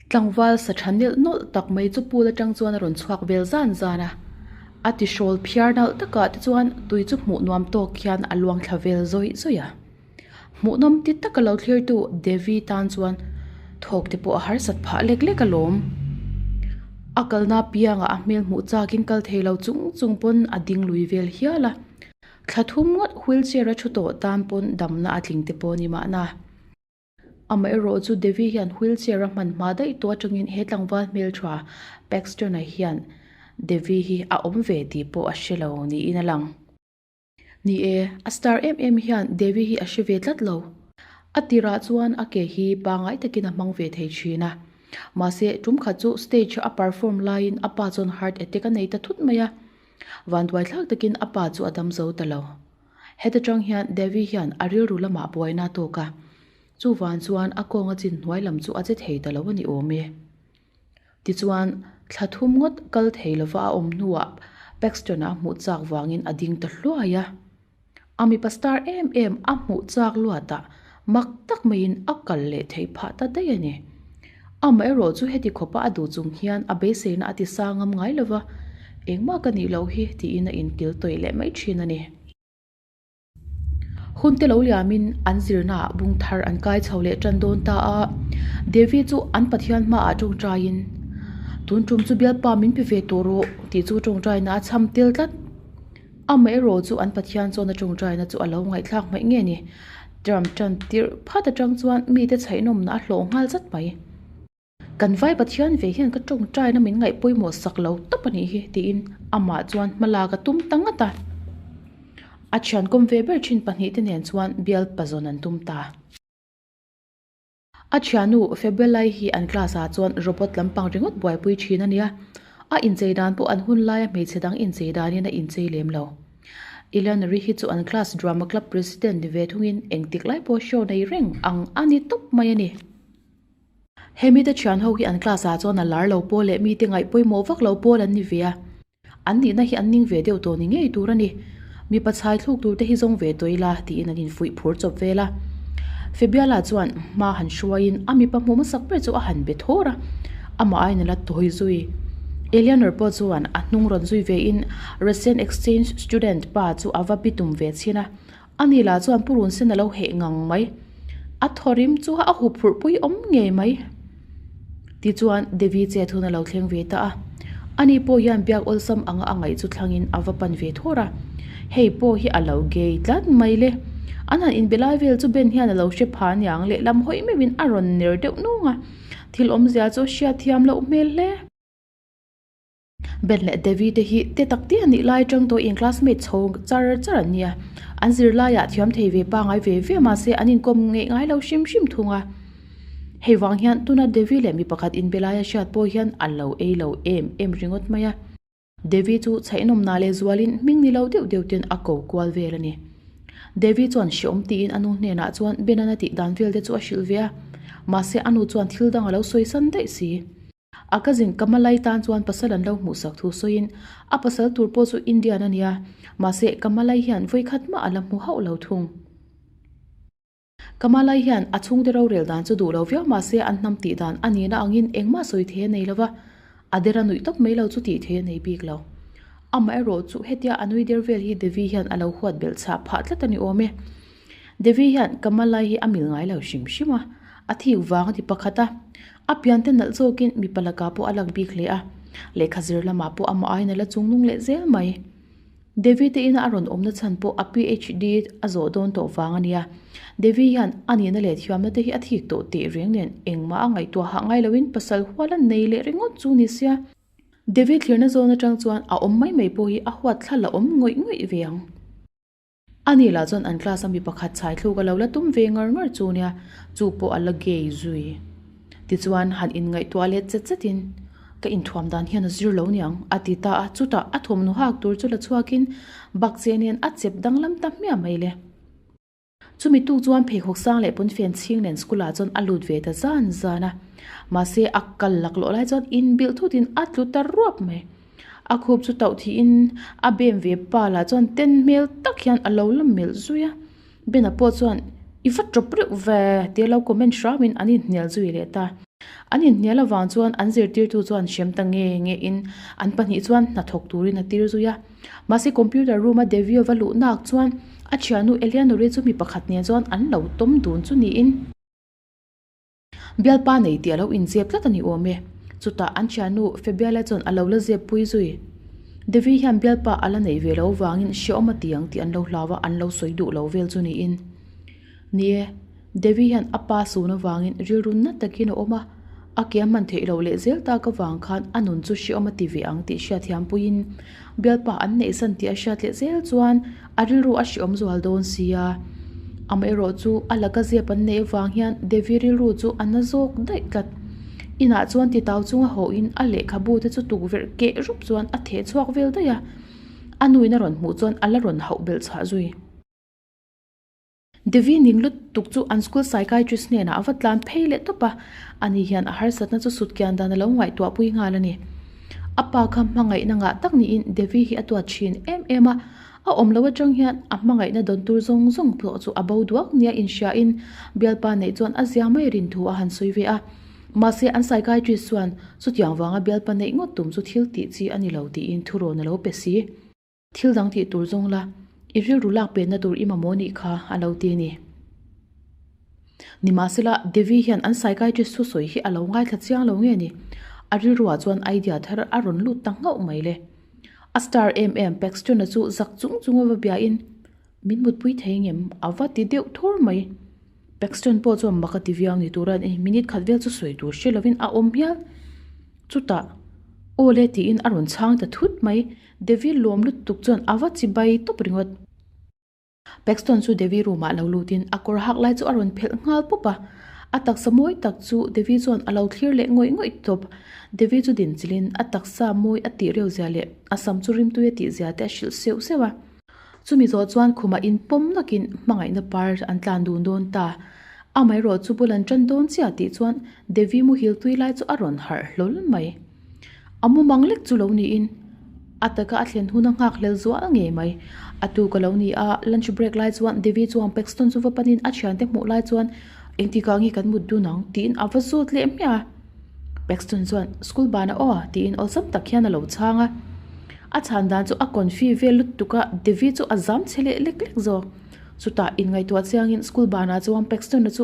Tlangval sa tha nelh nawlh tak mai chu Pul atang chuan a rawn chhuak vel zan zan a, a tihrawl phiar nalh takah te chuan tui chu hmuh nuam tawk hian a luangthla vel zawi zawi a. Hmuhnawm ti taka lo thlirtu Devi tan chuan thawkte pawh a harsat phah lek lek a lawm. A kalna piangah a hmel hmuh chakin kal thei lo chung chung pawn a ding lui vel hial a. Thla thum ngawt wheelchair a thu tawh tan pawn damna a tling te pawh ni mahna. Amaherawh chu Devi hian wheelchair a hmanhma daih tawh atangin he tlangval hmeltha Paxton-ah hian Devi hi a awm ve tih pawh a hre lo niin a lang. Ni e, a star em em hian Devi hi a hre ve tlat lo. A tirah chuan a ke hi pangai takin a hmang ve thei thin a. Mahse, tum khat chu stage a perform laiin a pa chuan heart attack a nei ta thut mai a. Vanduai thlak takin a pa chu a dam zo ta lo. Heta tang hian Devi hian a rilru lamah buaina a tawk a. Chu van chuan a kawnga chin hnuai lam chu a che thei ta lo a ni awm e. Tichuan, thla thum ngawt kal thei lova a awm hnuah Paxton-a a hmuh chak vangin a ding ta hluai a. A mipa star em em a hmuh chak luata mak tak maiin a kal leh theih phah ta daih a ni. Amaherawh chu heti khawpa a duh chung hian a beiseina a tisa ngam ngai lova, engmah ka nih loh hi tiin a inkil tawih leh mai thin a ni. Hunte lo liamin an zirnaah bung thar an kai chho leh tan dawn ta a. Devi chu an pathian hmaah tawngtain, Tun tum chu bialpa min pe ve tawh rawh tih chu a tawngtaina a chham tel tlat. Amaherawh chu an pathian chuan a tawngtaina chu a lo ngaihthlak hmaih ngei ni. Ram tan tirh phat atang chuan mite chhaihnawmna a hlawh nghal zat mai. Kan Vai Pathian ve hian ka tawngtaina min ngaih pawimawh sak lo tawp a nih hi, tiin amah chuan hma lak a tum ta ngat a. A thiankawm ve ber thin pahnih te nen chuan bial pazawn an tum ta. A thianu Febelai hi an class ah chuan robot lampang ringawt buaipui thin a nia. A inchei dan pawh an hun laia hmeichhe dang inchei danin a inchei lem lo. Ilanari hi chu an class drama club president ni ve thungin engtik lai pawh show nei reng ang a ni tawp mai a ni. He mite thian ho hi an class ah chuan a lar lo pawl leh mite ngaih pawimawh vak lo pawl an ni ve a, an nihna hi an ning ve deuh tawh ni ngei tur a ni. Mipa chhai thluk tur te hi zawng ve tawi la tiin an infuih phur chawp vel a. Febiala chuan hma han hruai in a mipa hmuh hmasak ber chu a han be thawr a, amah a in la tawi zui. Eleanor pawh chuan a hnung rawn zui ve in Russian exchange student pa chu a va bi tum ve chhin a. Ani lah chuan purun sen alo heh ngang mai. A thawrim chu a hup hurh pui awm nge mai. Tichuan Devi che thun alo thleng ve ta a. Ani pawh hian biak awlsam anga a ngaih chu thlangin a va pan ve thur a. Hei pawh hi alo gay tlat mai le. An han inbe lai vel chu Ben hian alo hre pha niang leh lam hawi meuhin a rawn ner deuh nung a. Thil awmzia chu a hria thiam loh hmel hle. Ben leh Devi te hi te tak te a nih lai atang tawh in classmate chho char char an nia an zirlai ah thiam thei ve pangai ve ve mahse an inkawm ngeih ngai lo hrim hrim thung a hei vang hian tuna Devi leh mi pakhat in be lai a hriat pawh hian an lo ei lo em em ringawt mai a Devi chu chhaihnawm na leh zual in hming ni lo deuh deuh ten a ko kual vel a ni Devi chuan hre awm ti in a nu hnenah chuan Ben an a tih dan vel te chu a hrilh ve a mahse a nu chuan thil dang a lo sawi san daih si. A cousin ka hma lai tan chuan pasal an lo hmuhsak thu sawiin, A pasal tur pawh chu Indian a ni a, mahse ka hma lai hian vawi khat mah a la hmu hauh lo thung. Ka hma lai hian a chhungte rorel dan chu duh lo viau mahse an hnam tih dan a nihna angin engmah sawi thei a nei lo va, a der a nuih tawp mai lo chu tih theih a nei bik lo. Amaherawh chu hetia a nui der vel hi Devi hian a lo huat belh chhah phah tlat a ni awm e. Devi hian ka hma lai hi a mil ngai lo hrim hrim a, a thik vang a ti pakhat a, A piante nalh zawkin mipa lakah pawh a lak bik hle a, lehkha zir lamah pawh amah aiin a la chung nung leh zel mai. Devi te ina a rawn awmna chhan pawh a PHD a zawh dawn tawh vang a nia. Devi hian a nihna leh thiamna te hi a thik tawh teh reng nen engmah a ngaihtuah hah ngai loin pasal huala nei leh ringawt chu ni sia. Devi thlirna zawn atang chuan a awm mai mai pawh hi a huat thla la awm ngawih ngawih ve ang. A nih lah chuan an class a mi pakhat chhai thluk a lo la tum ve ngar ngar chu nia, chu pawh a la gay zui. Tichuan han inngaihtuah let zet zet in, Ka inthuam dan hian a zir lo niang, a ti ta a, chutah a thawmhnaw hak tur chu la chhuak in bakcheh nen a chep danglam ta hmiah mai le. Chu mi tuk chuan pheikhawk sang leh pawnfen chhing nen school ah chuan a lut ve ta zan zan a, mahse a kal laklawh lai chuan inbilh thut in a tlu ta ruap mai. A khup chu tauh thiin a bem ve pa lah chuan ten hmel tak hian a lo la melh zui a, Ben a pawh chuan i va tawp reuh ve tih a lo comment hrang in an in hnial zui leh ta. An in hnial avang chuan an zirtirtu chuan hrem ta nge nge in an pahnih chuan hna thawk turin a tir zui a. Mahse computer room a Devio va luh nak chuan a thianu Eleanor-i chu mi pakhat nen chuan an lo tawm dun chu niin. Bialpa nei tih a lo inziak tlat a ni awm e. Chutah an ṭhiannu Febiala chuan a lo la ziak pui zui. Devi hian Bialpa a la nei ve lo vangin hria awm a ti ang tih an lo hlau a, an lo sawi duh lo vel chu niin. Ni e, Devi hian a pa sun avangin rilru nat takin a awm a, a ke a hman theih loh leh zel tak avang khan a nun chu hria awm a ti ve ang tih hriatthiam puiin, Bialpa an neih san tih a hriat leh zel chuan a rilru a hreawm zual dawn sia. Amaherawh chu a la ka zep an neih avang hian Devi rilru chu a na zawk daih tlat. Inah chuan titau chunga hawiin a lehkhabu te chu tukverh keh rup chuan a theh chhuak vel daih a. A nuin a rawn hmuh chuan a la rawn hauh belh chhah zui. Devi ning lutuk chu an school psychiatrist hnenah a va tlan phei leh tawp a, a ni hian a harsatna chu sut kian dan a lo ngaihtuah pui nghal a ni. A pa kha hmangaihna ngah tak niin Devi hi a tuat thin em em a, a awm lo atang hian a hmangaihna dawn tur zawng zawng pawh chu a bo duak nia inhriain Bialpa neih chuan a zia mai rin thu a han sawi ve a. Mahse an psychiatrist chuan chutiang vanga Bialpa neih ngawt tum chu thil tih chi a ni lo tiin thu rawn a lo pe si. Thil dang tih tur zawng la, i rilru lak penna tur i mamawh anih kha a lo ti a ni. Nimahsela, Devi hian an psychiatrist chu sawi hi a lo ngaithla chiang lo nge ni? A rilruah chuan idea thar a rawn lut ta nghauh mai le. A star em em Paxton-a chu zak chung chunga va biahin, min mutpui thei ngem a va ti deuh thur mai Paxton pawh chuan maka ti viau ni tura ih minute khat vel chu sawi tur hre lovin a awm hial chutah aw le tiin a rawn chhang ta thut mai Devi lawm lutuk chuan a va chi bai tawp ringawt Paxton chu Devi room ah lo lut in a kawr hak lai chu a rawn phelh nghal pawp a a taksa mawi tak chu Devi chuan a lo thlir leh ngawih ngawih tawp Devi chu din chilh in a taksa mawi a tih reuh zia leh a sam chu rimtuia tih zia te a hrilh seuh seuh a. Chumi zawh chuan khumah in pawm nakin hmangaihna par an tlan dun dawn ta. Amaherawh chu bul an tan dawn chiah tih chuan Devi muhil tui lai chu a rawn harh hlawl mai. A mu mang lek chu lo niin a taka a thlen huna nghak hlel zual ngei mai. A tu ka lo ni a, lunch break lai chuan Devi chuan Paxton chu va panin a thiante hmuh lai chuan. Engti kah nge kan mut dun ang? tiin a va zawt leh miah a. Paxton chuan, School ban a aw a, tiin aw zam tak hian a lo chhang a. A chhan dan chu a confi vel lut tuk a, Devi chu a zam chhe leh lek lek zawk. Chutah in ngaihtuah chiang in school ban ah chuan Paxton a chu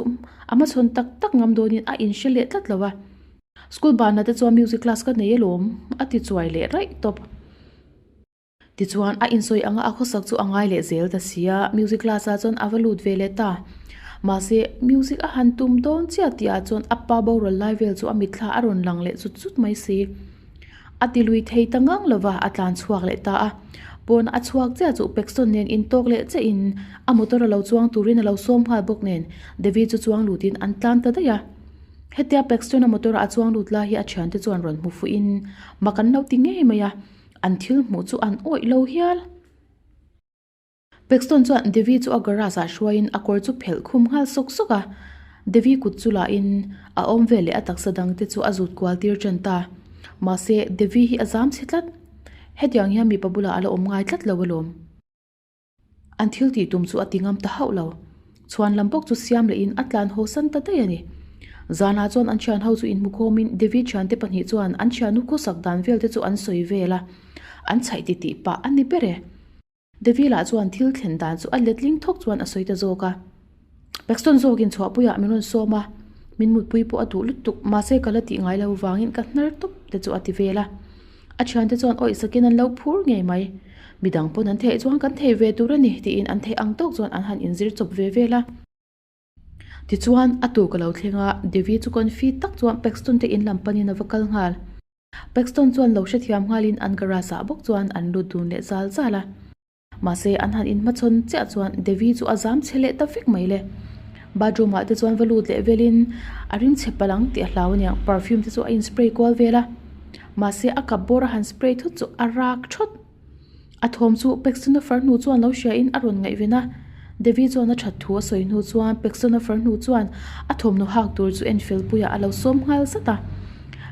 a hmachhawn tak tak ngam dawn in a in hre leh tlat lo a. School ban ah te chuan music class ka nei alawm, a ti chuai leh raih tawp. Tichuan a insawi anga a khawsak chu a ngai leh zel ta si a, music class ah chuan a va lut ve leh ta. Mahse, music a han tum dawn chiah tih ah chuan a pa boral lai vel chu a mitthla a rawn lang leh zut zut mai si. A ti lui thei ta ngang lo va, a tlan chhuak leh ta a. Pawn a chhuak chiah chu Pekson nen in tawk leh che in a motor a lo chuang turin a lo sawm nghal bawk nen Devi chu chuang lut in an tlan ta daih a. Hetia Pekson a motor ah a chuang lut lai hi a thiante chuan rawn hmu fuih in mak an lo ti ngei mai a. An thil hmuh chu an awih lo hial. Paxton chuan Devi chu a garage ah hruaiin a kawr chu phelh khum nghal sawk sawk a. Devi kut chu lahin a awm vel leh a taksa dang te chu a zut kual tir ṭan ta. Mahse, Devi hi a zam chhe tlat. Hetiang hian mipa bulah a la awm ngai tlat lo alawm. An thil tih tum chu a ti ngam ta hauh lo. Chhuan lam bawk chu siam leh in a tlan haw san ta daih a ni. Zan ah chuan an thian ho chu in hmu khawm in Devi thian te pahnih chuan an thian nu khawsak dan vel te chu an sawi vel a, an chhaih ti ti pah a ni ber e. Devi lah chuan thil thlen dan chu a let ling thawk chuan a sawi ta zawk a. Paxton zawkin chhuahpuiah min rawn sawm a, min mutpui pawh a duh lutuk. Mahse ka la tih ngai lo vangin ka hnar tawp te chu a ti vel a. A thian te chuan awih sakin an lo phur ngei mai. Midang pawn an theih chuan kan thei ve tur a ni tiin an theih ang tawk chuan an han in zir chawp ve vel a. Tichuan a tu ka lo thleng a, Devi chu confuse tak chuan Paxton te in lam panin a va kal nghal. Paxton chuan lo hrethiam nghalin an garage ah bawk chuan an lut dun leh zal zal a. Mahse, an han inhmachhawn chiah chuan Devi chu a zam chhe leh ta vek mai le. Bathroom ah te chuan va lut leh velin a ring chhe palang tih a hlau aniang. Perfume te chu a in spray kual vel a. Mahse, a kap bawr a han spray thut chu a rak thawt. A thawm chu Pekstuna farnu chuan lo hria in a rawn ngaihven a. Devi chuan a that thu a sawi hnu chuan Peksonofer hnu chuan a thawmhnaw hak tur chu Enfield-puiah a lo sawm nghal zat a.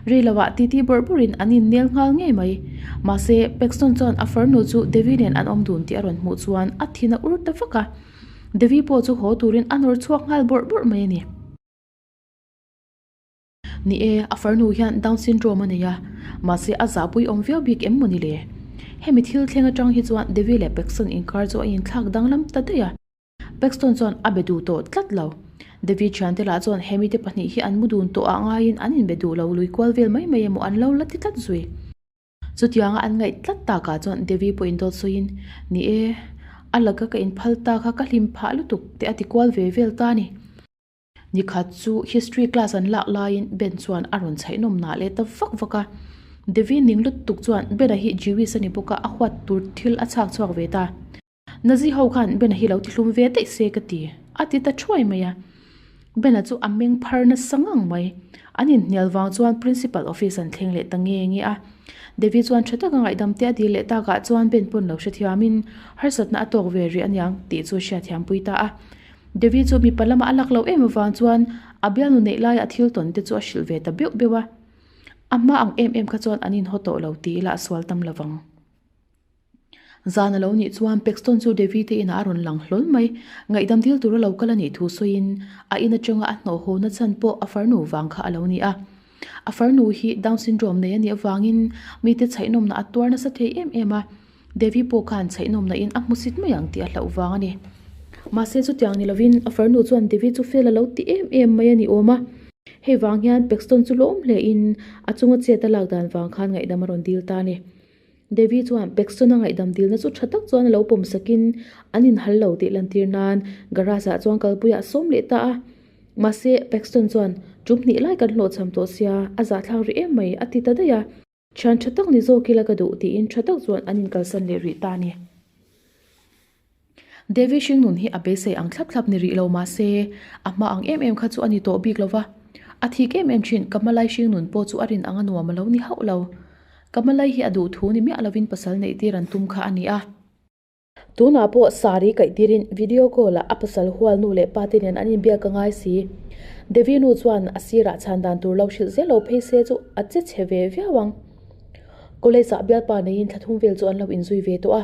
Ri lohah ti ti bawrh bawrhin an innel nghal ngei mai. Mahse, Pekson chuan a far hnu chu Devi nen an awm dun tih a rawn hmuh chuan a thin a ur ta vak a. Devi pawh chu haw turin a nawr chhuak nghal bawrh bawrh mai a ni. Ni e, a farnu hian Down Syndrome a nei a, mahse a zahpui awm viau bik em mawni le? Hemi thil thleng atang hi chuan Devi leh Paxton inkar chu a inthlak danglam ta daih a, Paxton chuan a be duh tawh tlat lo. Devi thiante lah chuan he mite pahnih hi an mu dun tawhah ngaiin an inbe duh lo, lui kual vel mai mai emaw an lo la ti tlat zui. Chutianga an ngaih tlat takah chuan Devi pawhin dawt sawiin, Ni e, a laka ka inphal tak a, ka hlim phah lutuk teh a ti kual ve vel ta a ni. Nikhat chu history class an lak laiin Ben chuan a rawn chhaihnawm na leh ta vak vak a. Devi ning lutuk chuan Ben-a hi Jewish a ni bawk a, a huat tur thil a chhak chhuak ve ta. Nazi ho khan Ben-a hi lo ti hlum ve daih se ka ti. A ti ta thuai mai a. Ben-a chu a meng phar nasa ngang mai. An inhnial vang chuan Principal office an thleng leh ta nge nge a. Devi chuan tha taka ngaihdam te a dil leh takah chuan Ben pawn lo hrethiamin, Harsatna a tawk ve rih aniang tih chu a hriatthiampui ta a. Devi chu mipa lama a lak loh em avang chuan a bialnu neih laia thil tawn te chu a hrilh ve ta beuh beuh a. A hma ang em em kha chuan an inhaw tawh lo ti ila a sual tam lo vang. Zan a lo nih chuan Paxton chu Devi te inah a rawn lang hlawl mai. Ngaihdam dil tur a lo kal a nih thu sawiin a in atanga a hnawhhaw na chhan pawh a farnu vang kha a lo ni a. A farnu hi Down Syndrome nei a nih avangin mite chhaihnawmna a tuar nasa thei em em a. Devi pawh khan chhaihnawm nahin a hmusit mai ang tih a hlauh vang a ni. Mahse chutiang ni lovin a farnu chuan Devi chu fel a lo ti em em mai a ni awm a. Hei vang hian Paxton chu lawm hle in a chunga chet a lak dan vang khan ngaihdam a rawn dil ta a ni. Devi chuan Paxton a ngaihdam dilna chu tha tak chuan a lo pawm sak in an in hal lo tih lantir nan garage ah chuan kal pui a sawm leh ta a. Mahse Paxton chuan, Tum hnih lai kan hlawh chham tawh sia, a zahthlak ri em mai, a ti ta daih a. Thian tha tak ni zawk ila ka duh tiin tha tak chuan an inkalsan leh rih ta a ni. Devi hringnun hi a beisei ang thlap thlap ni rih lo mahse, a hma ang em em kha chu a ni tawh bik lo va. A thik em em thin, ka hmalai hringnun pawh chu a rin ang a nuam a lo ni hauh lo. Ka hmalai hi a duh thu ni miah lovin pasal neih tir an tum kha a ni a. Tunah pawh saree kaih tirin video call ah a pasal hualnu leh pate nen an inbiak a ngai si. Devi nu chuan a sirah chhan dan tur lo hrilh zel lo phei se chu a che chhe ve viau ang. College ah bialpa neiin thla thum vel chu an lo inzui ve tawh a.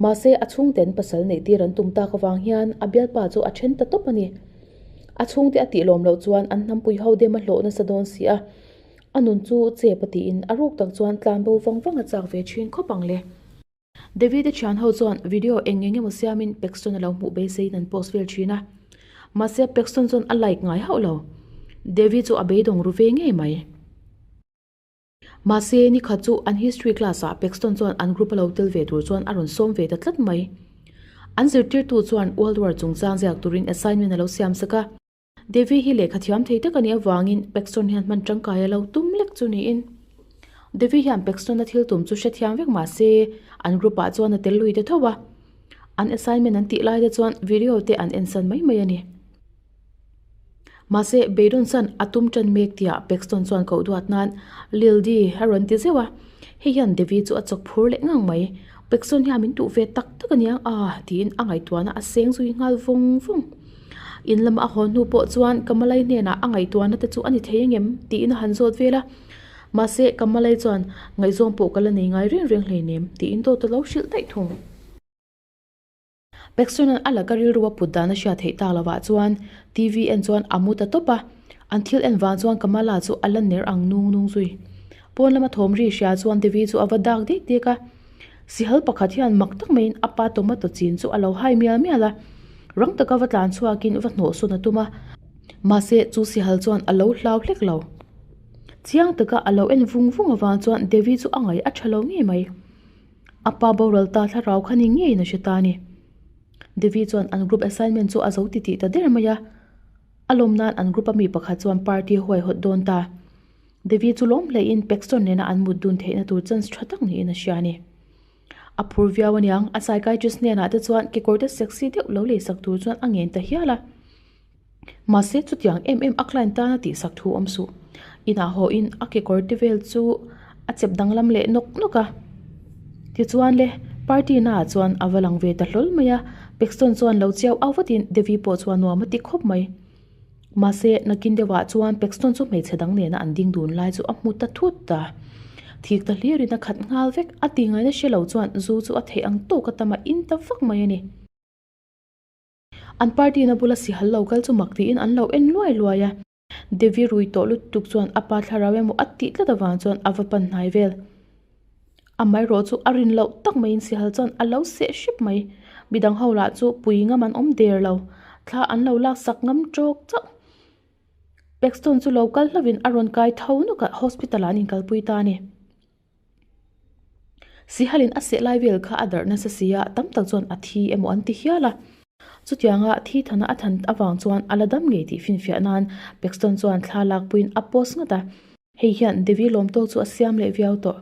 Mahse a chhungten pasal neih tir an tum tak avang hian a bialpa chu a then ta tawp a ni. A chhungte a tih lawm loh chuan an hnampuii ho dem a hlawh nasa dawn si a. A nun chu chep a tiin a ruk tak chuan tlan bo vang vang a chak ve thin khawp ang le. David-a thian ho chuan video eng eng emaw siamin Paxton-a lo hmuh beiseiin an post vel thin a. Mahse, Paxton chuan a like ngai hauh lo. David chu a beidawng ru ve ngei mai. Mahse, ni khat chu an history class-ah Paxton chuan an group-a lo tel ve tur chuan a rawn sawm ve ta tlat mai. An zirtirtu chuan World War chungchang ziak turin assignment a lo siam sak a. Devi hi lehkha thiam thei tak a nih avangin Paxton hian hman tangkai a lo tum lek chu niin. Devi hian Paxton-a thil tum chu hre thiam vek mah se, an group-ah chuan a tel lui ta thauh a. An assignment an tih lai te chuan video te an en san mai mai a ni. Mahse, beidawng san a tum tan mek tia Paxton chuan koh duat nan Lildi a rawn ti zeuh a. Heihian Devi chu a chawk phur leh ngang mai. Paxton hian min tuh ve tak tak a nia a tiin a ngaihtuahna a seng zui nghal vawng vawng. In lama a haw hnu pawh chuan Kamalai hnenah a ngaihtuahna te chu a ni thei engem? tiin a han zawt vel a. Mahse, Kamalai chuan, Ngaihzawng pawh ka la nei ngai reng reng hlei nem, tiin dawt a lo hrilh daih thung. Peksuanan a la ka rilru a put dan a hria theih tak lovah chuan TV en chuan a mu ta tawp a. An thil en vang chuan Kamala chu a la ner ang nung nung zui. Pawn lama thawmri hria chuan Devi chu a va dak dek dek a. Sihal pakhat hian mak tak maiin a pa tomato chin chu a lo hai mial mial a, rang taka va tlan chhuakin va hnawhsawn a tum a. Mahse, chu Sihal chuan a lo hlau hlek lo. Chiang taka a lo en vung vung avang chuan Devi chu a ngai a tha lo ngei mai. A pa boral ta thlarau kha ni ngeiin a hre ta a ni. Devi chuan an group assignment chu a zo ti ti ta der mai a. A lawm nan an group a mi pakhat chuan party huai hawt dawn ta. Devi chu lawm hlehin Paxton nena an mut dun theihna tur chance tha tak niin a hria a ni. A phur viau a niang, a psychiatrist hnenah te chuan kekawrte sexy deuh lo lei sak tur chuan a ngen ta hial a. Mahse chutiang em em a client tana tihsak thu awm suh. Inah hawiin a kekawrte vel chu a chep danglam leh nawk nawk a. Tichuan le, party naah chuan a va lang ve ta hlawl mai a. Paxton chuan lo chiau au vatin Devi pawh chuan nuam a ti khawp mai. Mahse, nakin deuhah chuan Paxton chu hmeichhe dang nena an ding dun lai chu a hmu ta thut a. Thik ta hlir in a khat nghal vek. A ti ngaina hre lo chuan zu chu a theih ang tawk a tam a in ta vak mai a ni. An party na bula si hallo kal chu mak tiin an lo en luai luai a. Devi rui tawh lutuk chuan a pa thlarau emaw a tih tlat avang chuan a va pan hnai vel. Amah erawh chu a rin loh tak mai in sihal chuan a lo seh hrep mai. Midang ho lah chu pui ngam an awm der lo. Thla an lo lak sak ngam tawk chauh. Paxton chu lo kal hlauh in a rawn kai tho nawk ah hospital ah an inkal pui ta a ni. Sihal in a seh lai vel kha a darh nasa si a, tam tak chuan a thi emaw an ti hial a. Chutiang a thi thana a than avang chuan a la dam ngei tih finfiah nan Paxton chuan thla lak pui in a post ngat a. Hei hian Devi lawmtawk chu a siam leh viau tawh.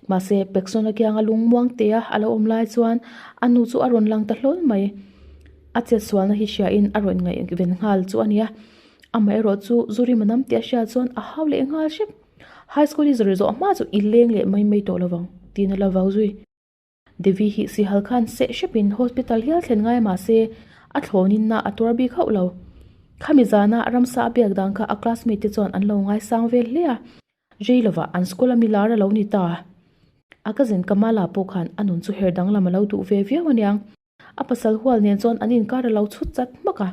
Mahse, Pekson akiang a lung muang te a, a lo awm lai chuan a nu chu a rawn lang ta hlawl mai. A chetsualna hi hria in a rawn ngaih ven nghal chu a ni a. Amaherawh chu zu rim anam tih a hriat chuan a hau leh nghal hrim. High school hi zawh ri zawh hma chu i leng leh mai mai tawh lovang, tihna lo vau zui. Devi hi sihal khan seh hrepin hospital hial thlen ngai mahse a thlawninna a tuar bik hauh lo. Khami zana ramsa a biak dan kha a classmate te chuan an lo ngaisang vel hle a. Rei lova an school a mi lar a lo ni ta. A cousin Kamala pawh khan a nun chu her danglam a lo duh ve viau a niang. A pasal hual nen chuan an inkar a lo chhut chat hmak a.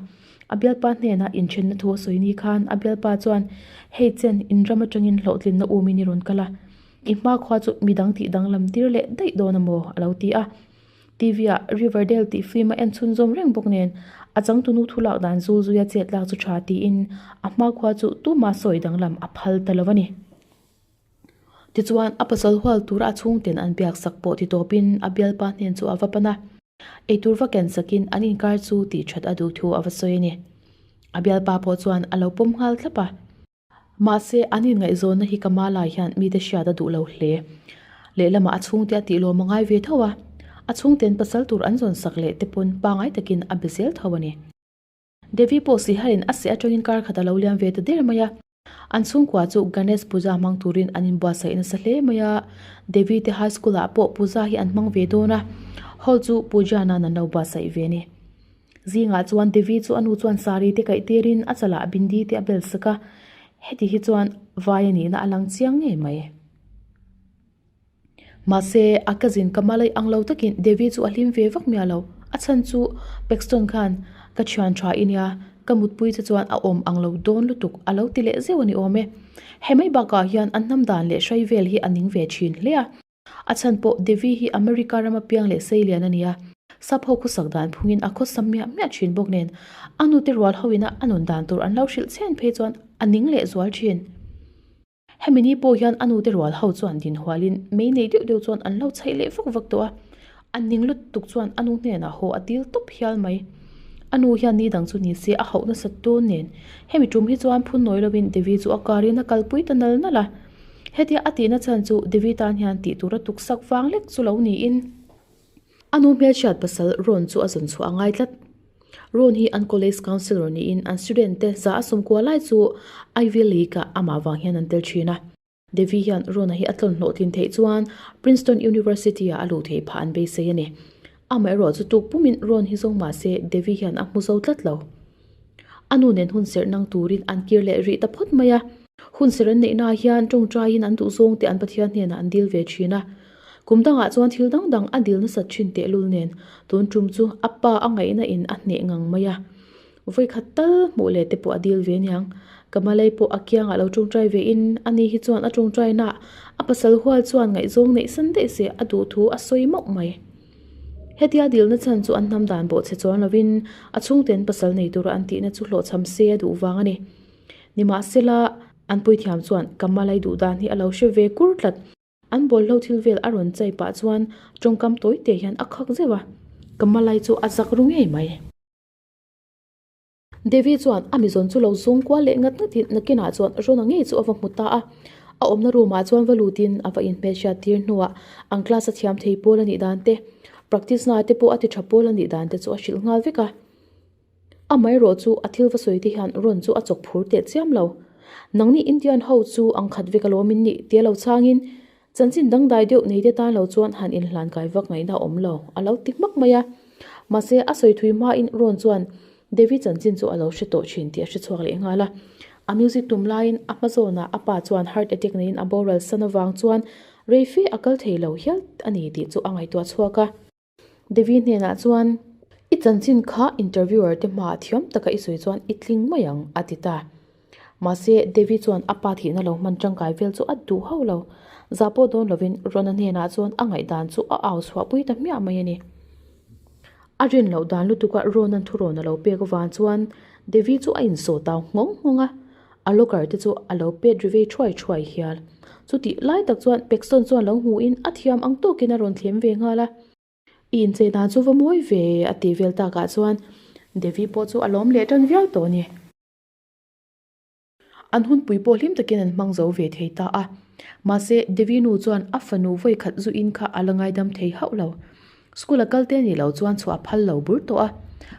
A bialpa hnenah inthenna thu a sawi ni khan a bialpa chuan, Hei chen, in ram atangin hlawhtlinna um in i rawn kal a, i hma khua chu mi dang tih danglam tir leh daih dawn a maw? a lo ti a. TV ah Riverdale tih film a en chhunzawm reng bawk nen a changtunu thu lak dan zul zuia chet lak chu tha tiin a hma khua chu tumah sawi danglam a phal ta lo a ni. Tichuan, a pasal hual tura a chhungten an biak sak pawh ti tawpin a bialpa hnen chu a va pan a. Eitur va ken sakin an inkar chu tih that a duh thu a va sawi a ni. A bialpa pawh chuan a lo pawm nghal thlap a. Mahse, an inngaihzawnna hi ka mah lai hian mite hriat a duh lo hle. Lehlamah a chhungte a tihlawm a ngai ve tho a. A chhungten pasal tur an zawn sak leh te pawn pangai takin a be zel tho a ni. Devi pawh sihal in a seh atangin kar khat a lo liam ve ta der mai a. An chhungkua chu Ganesh Puja hmang turin an inbuatsaih nasa hle mai a. Devi te high school ah pawh Puja hi an hmang ve dawn a. Hall chu Puja nan an lo buatsaih ve ni. Zingah chuan Devi chu a nu chuan saree te kaih tirin a chalah bindi te a bel sak a. Heti hi chuan vai a nihna a lang chiang ngei mai. Mahse, a cousin ka hma lei ang lo takin Devi chu a hlim ve vak miah lo. A chhan chu, Paxton khan ka thian tha i nia, ka mutpui te chuan a awm ang lo dawn lutuk a lo ti leh zeuh a ni awm e. Hemai bakah hian an hnamdan leh hrai vel hi a ning ve thin hle a. A chhan pawh Devi hi America rama piang leh sei lian a ni a, sap ho khawsak dan phungin a khawsam miah miah thin bawk nen, a nute rual ho ina a nun dan tur an lo hrilh chhen phei chuan a ning leh zual thin. Hemi ni pawh hian a nute rual ho chuan dinhualin mei nei deuh deuh chuan an lo chhaih leh vak vak tawh a, a ning lutuk chuan a nu hnenah haw a til tawp hial mai. A nu hian ni dang chu ni se a hauh nasa tûn nen. Hemi ṭum hi chuan phun nawi lovin Devi chu a kârin a kalpui ta nal nal a. Hetia a tihna chhan chu Devi tân hian tih tûra tuksak vang lek chu lo niin. A nu hmelchhiat pasal Ron chu a zawn chhuah a ngai tlat. Ron hi an college councillor niin an student te za a sum kual lai chu Ivy League-a amah vang hian an tel thin a. Devi hian Ron-a hi a tlawn hlawh tlin theih chuan Princeton University-a a luh theih phah an beisei a ni. Amaherawhchu tuk pumin Ron hi zawng mahse Devi hian a hmu zo tlat lo. A nu nen hun serh nang turin an kir leh rih ta phawt mai a. Hun ser an neihnaah hian tawngtaiin an duh zawng te an Pathian hnenah an dil ve thin a. Kum dangah chuan thil dang dang a dil nasat thin tehlul nen tun tum chu a pa a ngaihna in a hneh ngang mai a. Vawi khat tal hmuh leh te pawh a dil ve niang. Ka Malay pawh a kiangah lo tawngtai ve in a ni hi chuan a tawngtaina a pasal hual chuan ngaihzawng neihsan daih se a duh thu a sawi mauh mai. Hetia dilna chhan chu an hnam dan bawh chhe chuan lovin a chhungten pasal nei tura an tihna chu hlawhchham se a duh vang a ni. Nimahsela, an puithiam chuan Kamalai duhdan hi a lo hre ve kur tlat. An bawlhhlawh thil vel a rawn chai pah chuan tawngkam tawite hian a khak zeuh a, Kamalai chu a zak ru ngei mai. Devi chuan a mizawn chu lo zung kual leh ngat ngat in nakinah chuan Rona ngei chu a va hmu ta a, a awmna room ah chuan va lut in a va in hmeichhiat tir hnuah an class a thiam thei pawl a nih dan te, practice na te pawh a ti tha pawl a nih dan te chu a hrilh nghal vek a. Amaherawh chu a thil va sawi te hian Ron chu a chawk phur teh chiam lo. Nangni Indian ho chu ang khat vek alawm in nih? Tia lo chang in Chanchin dangdai deuh neite tan lo chuan han inhlan kai vak ngaihna a awm lo, a lo ti hmak mai a. Mahse, a sawi thui hmain Ron chuan Devi chanchin chu a lo hre tawh thin tih a hre chhuak leh nghal a. A music tum laiin a hma zawnah a pa chuan heart attack neiin a boral san avang chuan reife a kal thei lo hial a ni tih chu a ngaihtuah chhuak a. Devi hnenah chuan, I chanchin kha interviewer te hmaah thiam taka i sawi chuan i tling mai ang, a ti ta. Mahse, Devi chuan a pa thihna lo hman tangkai vel chu a duh hauh lo. Za pawh dawn lovin Rona hnenah chuan a ngaihdan chu a au chhuah pui ta hmiah mai a ni. A rian loh dan lutuka Ronan thurawn a lo pek avang chuan Devi chu a insawtau nghawng nghawng a. A locker te chu a lo pet ri vei thuai thuai hial. Chutih lai tak chuan Paxton chuan lo hmuh in a thiam ang tawk in a rawn thlem ve nghal a. I inche dan chu va mawi ve e a tih vel tak ah chuan Devi pawh chu a lawm leh tan viau tawh ni. An hunpui pawh hlim tak in an hmang zo ve thei ta a. Mahse Devi nu chuan a fanu vawikhat zu in kha a la ngaidam thei hauh lo. School a kal te nih loh chuan chhuah a phal lo bur tawh a.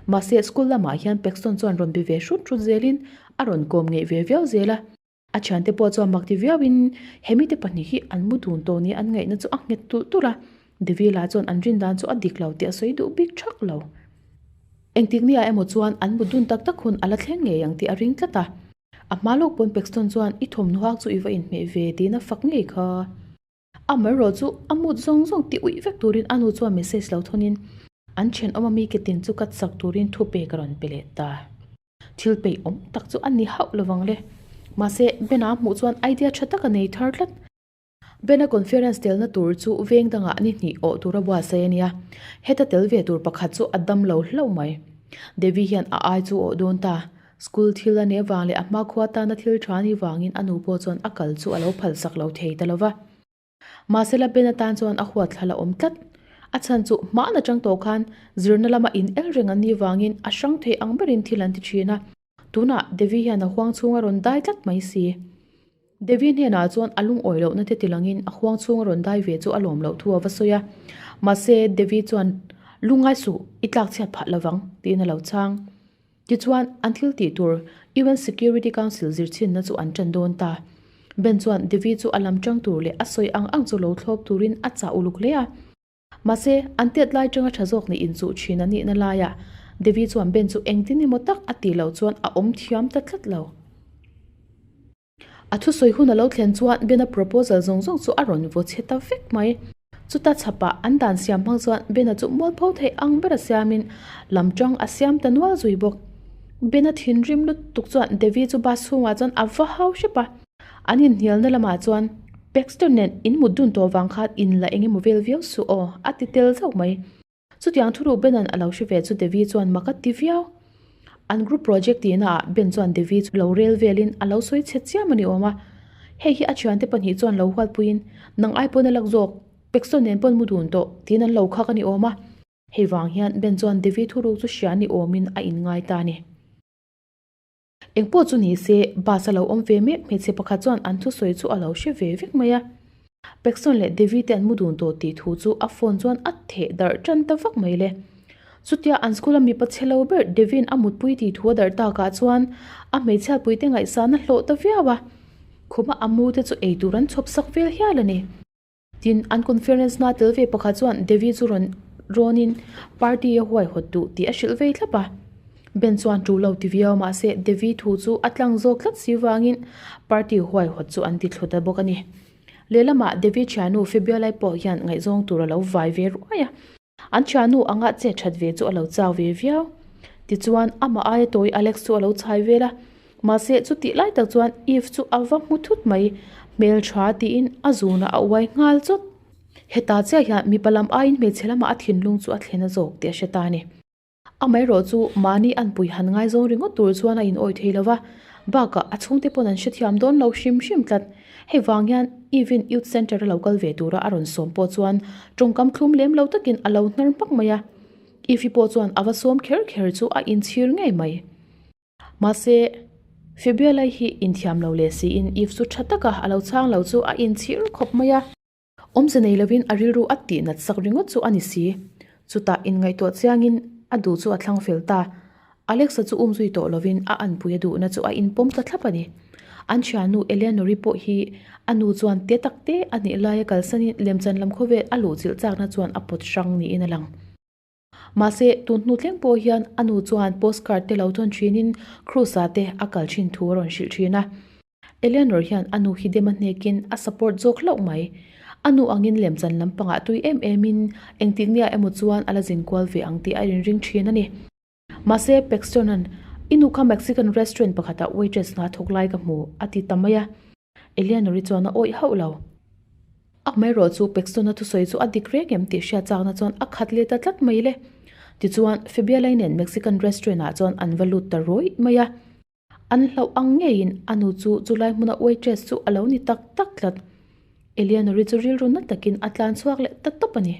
Mahse, school lamah hian Paxton chuan rawn be ve hrut hrut zelin a rawn kawm ngeih ve viau zel a. A thiante pawh chuan mak ti viauin, He mite pahnih hi an mu dun tawh nia, an ngaihna chu a nghet turh turh a. Devilla chuan an rindan chu a dik lo tih a sawi duh bik thak lo. Engtikneiah emaw chuan an mu dun tak tak hun a la thleng ngei ang tih a ring tlat a. A hma lawk pawn Paxton chuan, I thawmhnaw hak chu i va inhmeh ve, tiin a fak ngei kha. A amaherawh chu a mood zawng zawng ti uih vek turin a nu chuan message lo thunin, An thenawm ami ka tin chu ka chak turin thupe ka rawn pe leh ta. Thilpeih awm tak chu a ni hauh lo vang le. Mahse, Bena hmuh chuan idea tha tak a nei thar tlat. Bena conference telna tur chu veng dangah ni hnih awh tura buatsaih a nia. Heta tel ve tur pakhat chu a dam lo hlauh mai. Devi hian a ai chu awh dawn ta. School thil a neh vang leh a hma khua tana thil tha ni vangin a nu pawh chuan a kal chu a lo phalsak lo thei ta lova. Mahsela Ben atan chuan a huatthla la awm tlat. A chhan chu hmaan a chang tawh khan zirna lama in el reng an ni vangin a hrang thei ang berin thil an ti thin a. Tunah Devi hian a huang chhunga rawn dai tlat mai si. Devi hnenah chuan a lungawi lohna te tilangin a huang chhunga rawn dai ve chu a lawm loh thu a va sawi a. Mahse Devi chuan, Lungai suh, i tlakchhiat phah lovang, tiin a lo chhang. Tichuan, an thil tih tur UN Security Council zirchhinna chu an tan dawn ta. Ben chuan Devi chu a lam ṭang tur leh a sawi ang ang chu lo thlawp turin a chah uluk hle a. Mahse, an tet lai ṭanga ṭha zawk nih inchuh ṭhin a nihna laiah Devi chuan Ben chu engtin emaw tak a tih loh chuan a awm thiam ta tlat lo. A thusawi hun a lo thlen chuan Ben-a proposal zawng zawng chu a rawn vaw chhe ta vek mai. Chuta chhapa an dan siam hmang chuan Ben-a chu mual pho theih ang bera siamin lam tang a siam ta nual zui bawk. Ben-a thinrim lutuk chuan Devi chu bus chhungah chuan a va hau hrep a. An inhnialna lamah chuan, Baxter nen in mutdun tawh vang khan in la engemaw vel viau suh aw, a ti tel zauh mai. Chutiang thu ruk Bena'n a lo hre ve chu Devi chuan mak a ti viau. An group project tihna ah Ben chuan Devi chu lo rel velin a lo sawi chhe chiam a ni awm a. Hei hi a thiante pahnih chuan lo hual puiin, Nang ai pawn a lak zawk, Paxton nen pawn mu dun tawh, tiin an lo khak a ni awm a. Hei vang hian Ben chuan Devi thu ruk chu hria ni awmin a inngai ta a ni. Engpawh chu ni se, bus a lo awm ve mek hmeichhe pakhat chuan an thusawi chu a lo hre ve vek mai a. Pekson leh Devi te an mu dun tawh tih thu chu a phone chuan a theh darh tan ta vak mai le. Chutia an school a mipa che lo ber Devi-in a mutpui tih thu a darh takah chuan a hmeichhia puite ngaihsana hlawh ta viau a. Khuma a mute chu eitur an chhawp sak vel hial a ni. Tin, an conference hma tel ve pakhat chuan Devi chu rawn râwnin party a huai hawt duh tih a hrilh vei thlap a. Ben chuan ṭu lo ti viau mahse Devi thu chu a tlang zawk tlat si vangin party huai hawt chu an ti thlu ta bawk a ni. Lehlamah Devi ṭhiannu Febialai pawh hian ngaihzawng tur a lo vai ve ruai a. An thiannu anga che that ve chu a lo chau ve viau. Tichuan, amah aia tawi Alex chu a lo chhai vel a. Mahse, chutih lai tak chuan Eve chu a va hmu thut mai. Hmeltha tiin a zunah a uai nghal chawt. Heta chiah hian mipa lam aiin hmeichhe lamah a thinlung chu a thlen a zawk tih a hre ta a ni. Amaherawh chu mahni an pui han ngai zawng ringawt tur chuan a inawih thei lo va, bakah a chhungte pawn an hrethiam dawn lo hrim hrim tlat. Hei vang hian Evin Youth Centre a lo kal ve tura a rawn sawm pawh chuan tawngkam thlum lem lo takin a lo hnar hmak mai a. Evi pawh chuan a va sawm kher kher chu a inchhir ngei mai. Mahse, Febia lei hi inthiam lo leh siin Eve chu tha taka a lo chang lo chu a inchhir khawp mai a. Awmze nei lovin a rilru at tih natsak ringawt chu a ni si. Chutah inngaihtuah chiangin a duh chu a thlang fel ta. Alex-a chu um zui tawh lovin a an puia duhna chu a inpawm ta thlap a ni. An thiannu Eleanor-i pawh hi a nu chuan te tak te a nih laia kalsanin Lemchan lam khawvel a luh chilh chakna chuan a pawt hrang niin a lang. Mahse, tun hnu tlem pawh hian a nu chuan postcard te lo chawn thinin Krusah te a kal thin thu a rawn hrilh thin a. Eleanor hian a nu Hidema hnekin a support zawk hlauh mai. A nu angin lemchan lampangah tui em emin engtiknea emaw chuan a la zin kual ve ang tih a rinring thin a ni. Mahse, Paxton-a'n, I nu kha Mexican restaurant pakhatah waitress hna thawk lai ka hmu, a ti ta mai a. Eleanor-i chuan a awih hauh lo. A hmeirawh chu Paxton-a thusawi chu a dik reng em tih hria chakna chuan a khat leta tlat mai le. Tichuan, Febia-lei nen Mexican restaurant-ah chuan an va lut ta ruih mai a. An hlauh ang ngeiin a nu chu chulai hmuna waitress chu a lo ni tak tak tlat. Eleanor-i chu rilru na takin a tlan chhuak leh ta tawp a ni.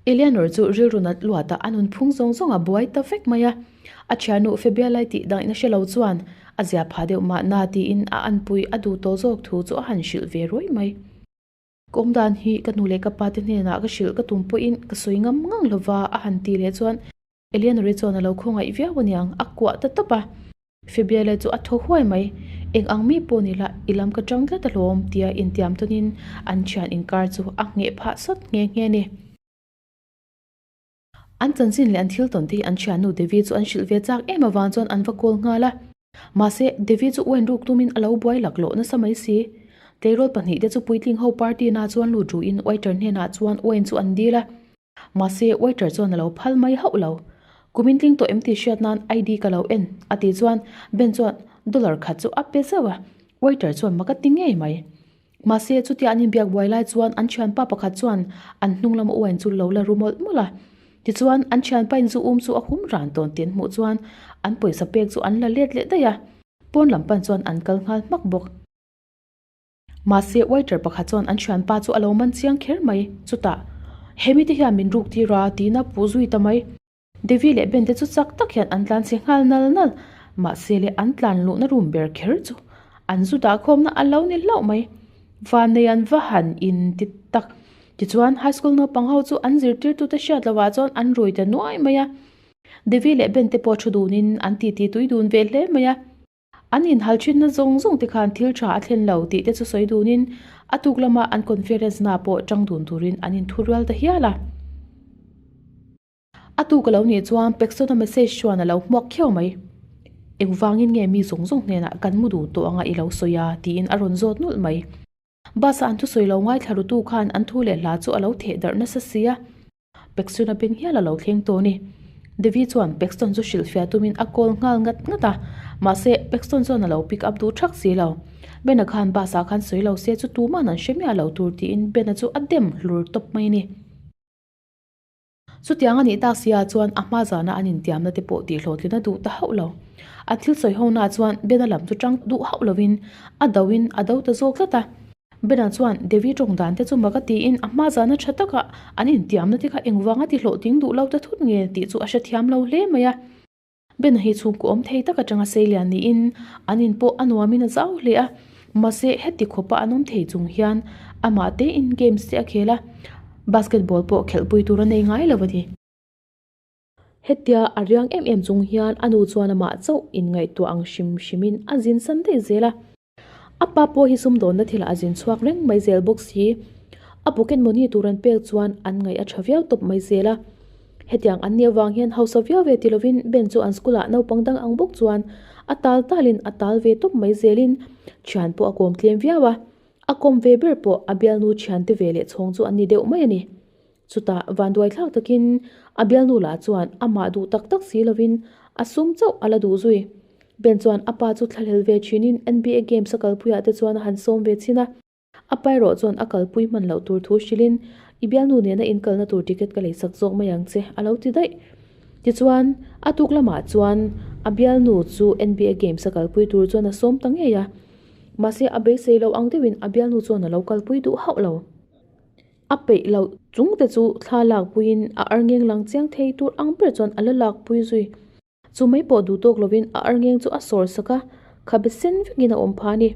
Eleanor chu rilru nat luatah a nunphung zawng zawng a buai ta vek mai a. A thiannu Febia lai tih dangin a hre lo chuan a zia pha deuh mah na tiin a anpui a duh tawh zawk thu chu a han hrilh ve ruai mai. Ka awm dan hi ka nu leh ka pate hnenah ka hrilh ka tum pawhin ka sawi ngam ngang lo va a han ti leh chuan. Eleanor-i chuan a lo khawngaih viau a niang, a kuah ta tawp a. Febia-le chu a thaw huai mai. Eng ang mi pawh ni la, i lam ka chang tlat ahlawm, tia intiam tawnin an thian inkar chu a ngheh phah sawt nghe nghe a ni. An chanchin leh an thil tawnte hi an thiannu Devi chu an hrilh ve chak em avang chuan an va kawl nghal a. Mahse, Devi chu uainruk tumin a lo buai lak lo nasa mai si. Tleirawl pahnihte chu puitling ho party-na chuan lut ruhin Uaiter hnenah chuan uain chu an dil a. Mahse, waiter chuan a lo phal mai hauh lo. Kumin tling tawh em tih hriat nan ID ka lo en, a ti chuan Ben chuan dollar khat chu a pe zauh a. Waiter chuan maka ti ngei mai. Mahse, chutia an inbiak buai lai chuan an thianpa pakhat chuan an hnung lama uain chu lo la ru mawlh mawlh a. Tichuan an thianpain zu um chu a hum ran tawn tih an hmuh chuan an pawisa pek chu an la let leh daih a. Pawn lam pan chuan an kal nghal hmak bawk. Mahse, waiter pakhat chuan an thianpa chu a lo man chiang kher mai. Chutah, He mite hian min ruk tir a, tihna puh zui ta mai. Devi leh Ben te chu chak tak hian an tlan chhe nghal nal nal. Mahsele, an tlan luhna rum ber kher chu an zu dah khawmna a lo ni hlauh mai. Vannei an va han in ti tak. Tichuan, high school naupang ho chu an zirtirtute hriat lovah chuan an ruih ta nuai mai a. Devi leh Ben te pawh thu dunin an titi tui dun ve hle mai a. An inhalthinna zawng zawng te khan thil tha a thlen lo tih te chu sawi dunin a tuk lama an conference na pawh chang dun turin an in thu rual ta hial a. A tuk a lo nih chuan Pexona message chuan a lo hmuak khiau mai. Engvangin nge mi zawng zawng hnenah kan mu duh tawh anga i lo sawi a? tiin a rawn zawt nulh mai. Bus-a an thusawi lo ngai thlarutu khan an thu leh hla chu a lo theh darh nasa sia. Peksui na ben hial a lo thleng tawh a ni. Devi chuan Pekstone chu hrilh fiah tumin a call nghal ngat ngat a. Mahse, Pekstone chuan a lo pick up duh thak si lo. Ben-a khan bus-a khan sawi lo se chu tuman an hre miah lo tur tiin Ben-a chu a dem hlur tawp mai a ni. Chutiang a nih tak sia chuan a hma zana an intiamna te pawh tihhlawhtlina duh ta hauh lo. A thil sawi ho naah chuan Bena lam chu ṭang duh hauh lovin a doin a do ta zawk zat a. Bena chuan Devi ṭawng dan te chu maka tiin a hma zana ṭha taka an intiamna te kha engvanga ti hlawh ting duh lo ta thut nge tih chu a hrethiam lo hle mai a. Bena hi chhungkaw awm thei tak atanga sei lian niin an in pawh a nuamin a zau hle a. Mahse, heti khawpa an awm thei chung hian amah tein games te a khel a, basketball pawh khelhpui tur a nei ngai lo a ni. Hetia a riang em em chung hian a nu chuan amah chauh inngaihtuah ang hrim hrimin a zinsan daih zel a. A pa pawh hi sumdawnna thilah a zin chhuak reng mai zel bawk si. A pocket money tur an pek chuan an ngaih a tha viau tawp mai zel a. Hetiang an nih avang hian hausa viau ve ti lovin Ben chu an school ah naupang dang ang bawk chuan a tal talin a tal ve tawp mai zelin thian pawh a kawm tlem viau a. A kawm ve ber pawh a bialnu thiante veleh chhawng chu an ni deuh mai a ni. Chutah vanduai thlak takin a bialnu lah chuan amah duh tak tak si lovin a sum chauh a la duh zui. Ben chuan a pa chu thlahlel ve thinin NBA Games a kalpuiah te chuan a han sawm ve chin a. A pa erawh chuan a kalpui hman loh tur thu hrilhin, I bialnu nena inkalna tur ticket ka lei sak zawk mai ang che, a lo ti daih. Tichuan, a tuk lamah chuan a bialnu chu NBA Games a kalpui tur chuan a sawm ta ngei a. Mahse, a beisei lo ang deuhin a bialnu chuan a lo kalpui duh hauh lo. A peih loh chung te chu thla lak puiin a arngeng lang chiang thei tur ang ber chuan a la lak pui zui. Chu mai pawh duh tawk lovin a arngeng chu a sawr sak a, kha be sen vekin a awm pha a ni.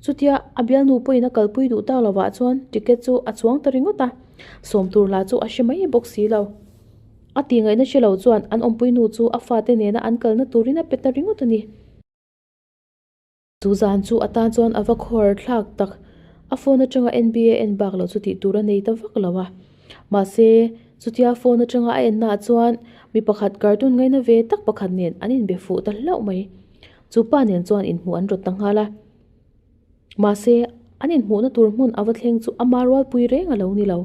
Chutia a bialnu pawhin a kalpui duh ta lovah chuan ticket chu a chuang ta ringawt a, sawm tur hla chu a hre mai bawk si lo. A tingaihna hre lo chuan an awmpuinu chu a fate nena an kalna turin a pe ta ringawt a ni. Chu zan chu a tan chuan a va khuar thlak tak. A phone atanga NB a en bak loh chu tih tur a nei ta vak lo a. Mahse, chutia phone atanga a en naah chuan mi pakhat cartoon ngaina ve tak pakhat nen an inbe fuh ta hlauh mai. Chu pa nen chuan inhmuh an rawt ta nghal a. Mahse, an inhmuhna tur hmun a va thleng chu ama rualpui reng a lo ni lo.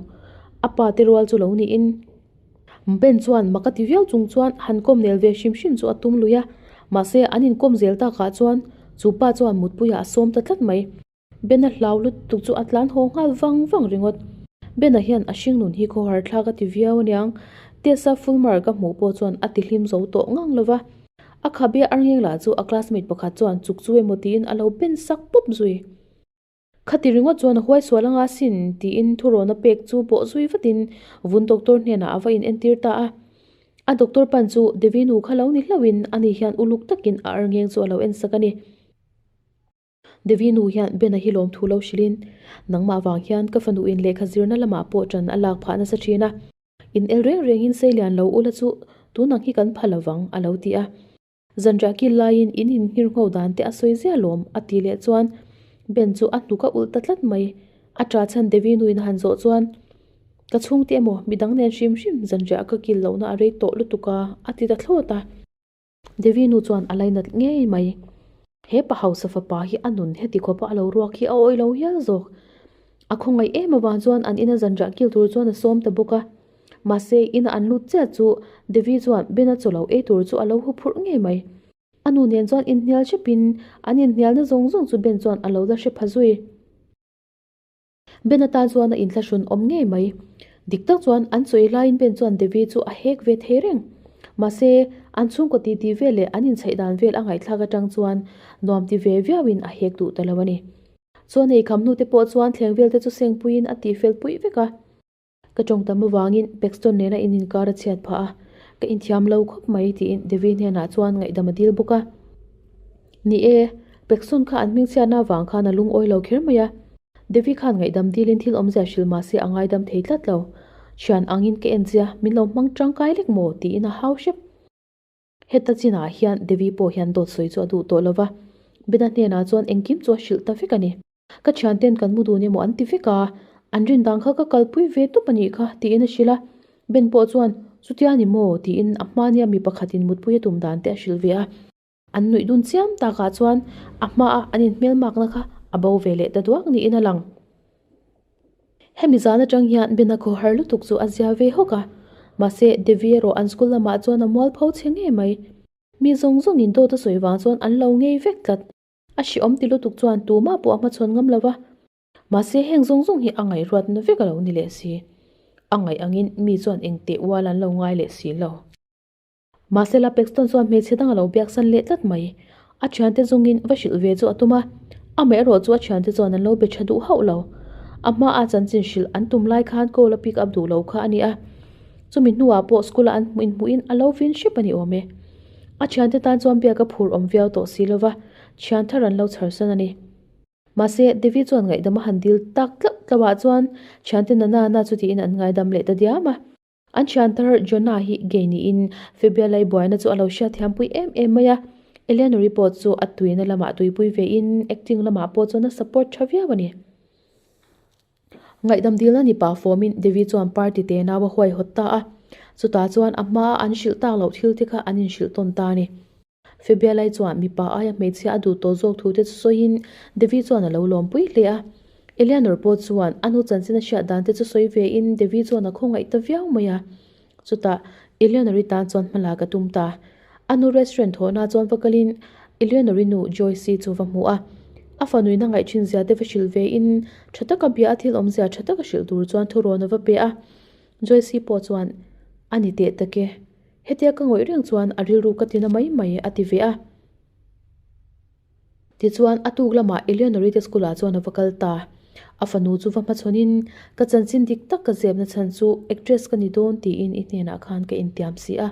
A pate rual chu lo niin. Ben chuan maka ti viau chung chuan han kawm nel ve hrim hrim chu a tum lui a, mahse an inkawm zel tak ah chuan chu pa chuan mutpuiah a sawm ta tlat mai. Ben a hlau lutuk chu a tlan haw nghal vang vang ringawt. Ben a hian a hringnun hi khaw harthlak a ti viau a niang. Tessa Fulmer ka hmuh pawh chuan a tihlim zo tawh ngang lova. A khabia arngeng lah chu a classmate pakhat chuan chuk chu emaw tiin a lo ben sak pawp zui. Khati ringawt chuan a huaisual anga sin, tiin thu rawna pek chu pawh zui vatin vun doctor hnenah a va in entir ta a. A doctor pan chu Devi nu kha lo ni hlauhin ani hian uluk takin a arngeng chu a lo en sak a ni. Devi nu hian Ben-a hi lawm thu lo hrilhin, Nangmah vang hian ka fanuin lehkha zirna lamah pawh tan a lak phah nasa thin a, in el reng rengin sei lian lo ula chu tunang hi kan pha lovang, a lo ti a. Zanriah kil laiin in inhngir ngho dan te a sawi ziah lawm, a ti leh chuan Ben chu a hnuk a ulh ta tlat mai. A ṭa chhan Devi nuin a han zawh chuan, Ka chhungte emaw, midang nen hrim hrim zanriah ka kil lohna a rei tawh lutuk a, a ti ta thlawt a. Devi nu chuan a lei nat ngei mai. He pa hausa fapa hi a nun heti khawpa a lo ruak hi a awilo hial zawk. A khawngaih em avang chuan an ina zanriah kil tur chuan a sawm ta bawk a. Mahse, ina an lut chiah chu Devi chuan Ben a chaw lo ei tur chu a lo hu phurh ngei mai. A nu nen chuan inhnial hrep in an inhnialna zawng zawng chu Ben chuan a lo la hre pha zui. Ben atan chuan a inhla hrun awm ngei mai. Dik tak chuan an chaw ei lai in Ben chuan Devi chu a hek ve thei reng. Mahse, an chhungkaw ti ti vel leh an insaih dan vel a ngaihthlak atang chuan nuam ti ve viau in a hek duh ta lo a ni. Chuan ei kham hnute pawh chuan thleng vel te chu sengpui in a tih fel pui vek a. Ka tawng tam avangin Paxton nena in inkar a chhiat phah a, ka inthiam lo khawp mai, tiin Devi hnenah chuan ngaihdam a dil bawk a. Ni e, Paxton kha an hmingchhiatna vang khan a lungawi lo kher mai a. Devi khan ngaihdam dilin thil awmzia hril mahse a ngaidam thei tlat lo. Thian angin ka en zia, min lo hmang tangkai lek maw? tiin a hau hrep. Heta chinah hian Devi pawh hian dawt sawi chu a duh tawh lova, Bena hnenah chuan engkim chu a hrilh ta vek a ni. Ka thiante'n kan hmu dun emaw an ti vek a, an rindang kha ka kalpui ve tup a nih kha, tiin a hrilh a. Ben pawh chuan, Chutia ni maw? tiin a hma nia mi pakhatin mutpui a tum dan te a hrilh ve a. An nuih dun chiam takah chuan a hma a an inhmelmakna kha a bo ve leh ta duak niin a lang. Hemi zan atang hian Ben-a khaw har lutuk chu a zia ve hawk a. Mahse, Devi erawh an school lamah chuan a mual pho che ngei mai. Mi zawng zawngin dawt a sawi vang chuan an lo ngei vek tlat. A hriawm ti lutuk chuan tumah pawh a hmachhawn ngam lo va. Mahse, heng zawng zawng hi a ngaihruat na vek a lo ni leh si. A ngaih angin mi chuan engteh ual an lo ngai leh si lo. Mahse la Paxton chuan hmeichhe dang a lo biaksan leh tlat mai. A thiante zungin va hrilh ve chu a tum a, amaherawh chu a thiante chuan an lo be tha duh hauh lo. A hmaa chanchin hrilh an tum lai khan goal-a pick up duh lo kha a ni a, chumi hnuah pawh school-a an hmuh inhmuhin a lo vin hrep a ni awm e. A thiante tan chuan biaka phur awm viau tawh si lova, thian thar an lo chhar san a ni. Mahse, Devi chuan ngaihdam a han dil tak tlauh tlauhah chuan thiante nanana chutiin an ngaidam leh ta diam a. An thiantar Jonah hi gay niin Phoebe-a lei buaina chu a lo hria thiampui em em mai a. Eleanor-i pawh chu a tuihna lamah tuipui vein acting lamah pawh chuan a support tha viau a ni. Ngaihdam dilna ni pah fawmin Devi chuan party te nau a huaihawt ta a. Chutah chuan a hmaa an hrilh tak loh thil te kha an inhrilh tawn ta a ni. Febialai chuan mipa aia hmeichhia a duh tawh zawk thute chu sawiin Devi chuan a lo lawm pui hle a. Eleanor pawh chuan a nu chanchin a hriat dan te chu sawi vein Devi chuan a khawngaih ta viau mai a. Chutah Eleanor-i tan chuan hma lak a tum ta. A nu restaurant thawhna chuan va kalin Eleanor-i nu Joyce-i chu va hmu a. A fa nuihna ngaih thin zia te va hrilh vein tha taka bia a thil awm zia tha taka hrilh tur chuan thurawn a va pe a. Joyce-i pawh chuan a ni teh tak e. Hetia ka ngawih reng chuan a rilru ka tina mai mai a ti ve a. Tichuan a tuk lamah Eleonorita School-ah chuan a va kal ta. A fanu chu va hmachhawnin ka chanchin dik tak ka zep nachhan chu actress ka ni dawn tiin i hnenah khan ka intiam si a.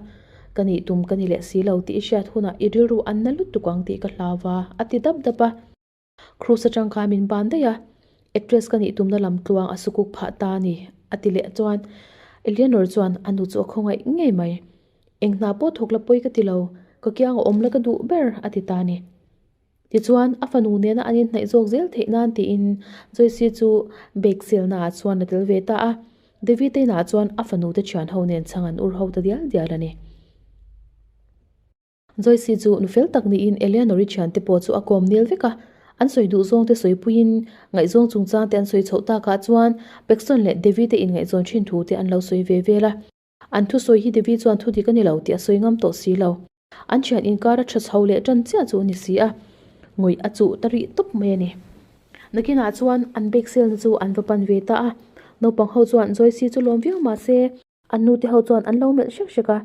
Ka nih tum ka ni leh si lo tih i hriat hunah i rilru an na lutuk ang tih ka hlau a, a ti dap dap a. Krus atang kha a min ban daih a, Actress ka nih tumna lam tluang a sukuk phah ta a ni, a ti leh chuan Eleanor chuan a nu chu a khawngaih ngei mai. Eng hna pawh thawk la pawi ka ti lo, ka kiang a awm la ka duh ber a ti ta a ni. Tichuan a fanu nena an inhnaih zawk zel theih nan tiin Joyce chu bag selna ah chuan la tel ve ta a, Devi te inah chuan a fanute thianho nen chhang an ur ho ta dial dial a ni. Joyce chu nu fel tak niin Eleanor i thiante pawh chu a kawm nel vek a. An sawi duh zawngte sawi puiin ngaihzawng chungchangte an sawi chhoh takah chuan Paxton leh Devi te ingaihzawn thin thute an lo sawi ve vel a. An thusawi hi Devi chuan thu dik a ni lo tih a sawi ngam tawh si lo. An thian inkar a tha chho leh tan chiah chu a ni si a, ngawih a chuh ta rih tawp mai a ni. Nakinah chuan an bag sale-na chu an va pan ve ta a. Naupang ho chuan Joyce chu lawm viau mah se, An nute ho chuan an lo melh hrek hrek a,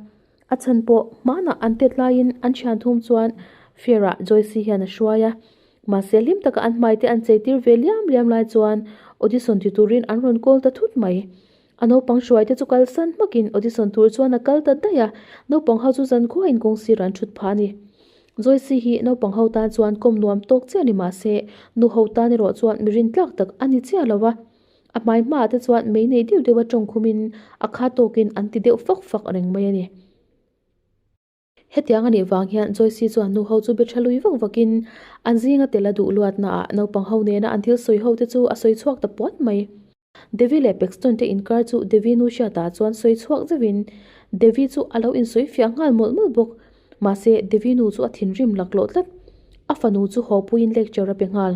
a chhan pawh hmanah an tet laiin an thian thum chuan Fear-a Joyce-i hian a hruai a. Mahse hlim taka an hmaite an chei tir ve liam liam lai chuan audition ti turin an rawn kawl ta thut mai. A naupang hruai te chu kalsan hmakin audition tur chuan a kal ta daih a, naupang ho chu zan khuain kawng sirah an thut phah a ni. Joyce-i hi naupang ho tan chuan kawm nuam tawk chiah a ni mahse, nu ho tan erawh chuan mi rin tlak tak a ni chiah lo a. A hmai hma ah te chuan mei nei deuh deuh a tawng khum in a kha tawk in an ti deuh fak fak reng mai a ni. Hetiang a nih vang hian Joyce chuan nu ho chu biaṭha lui vak vak in an zing a tel a duh luat na ah naupang ho nen a an thil sawi ho te chu a sawi chhuak ta puan mai. Devi leh Paxton te in kar chu Devi nu hriat ah chuan sawi chhuak zeuh in Devi chu a lo in sawi fiah nghal mawlh mawlh bawk. Mahse Devi nu chu a thinrim lak loh tlat. A fanu chu haw pui in lecture a pe nghal.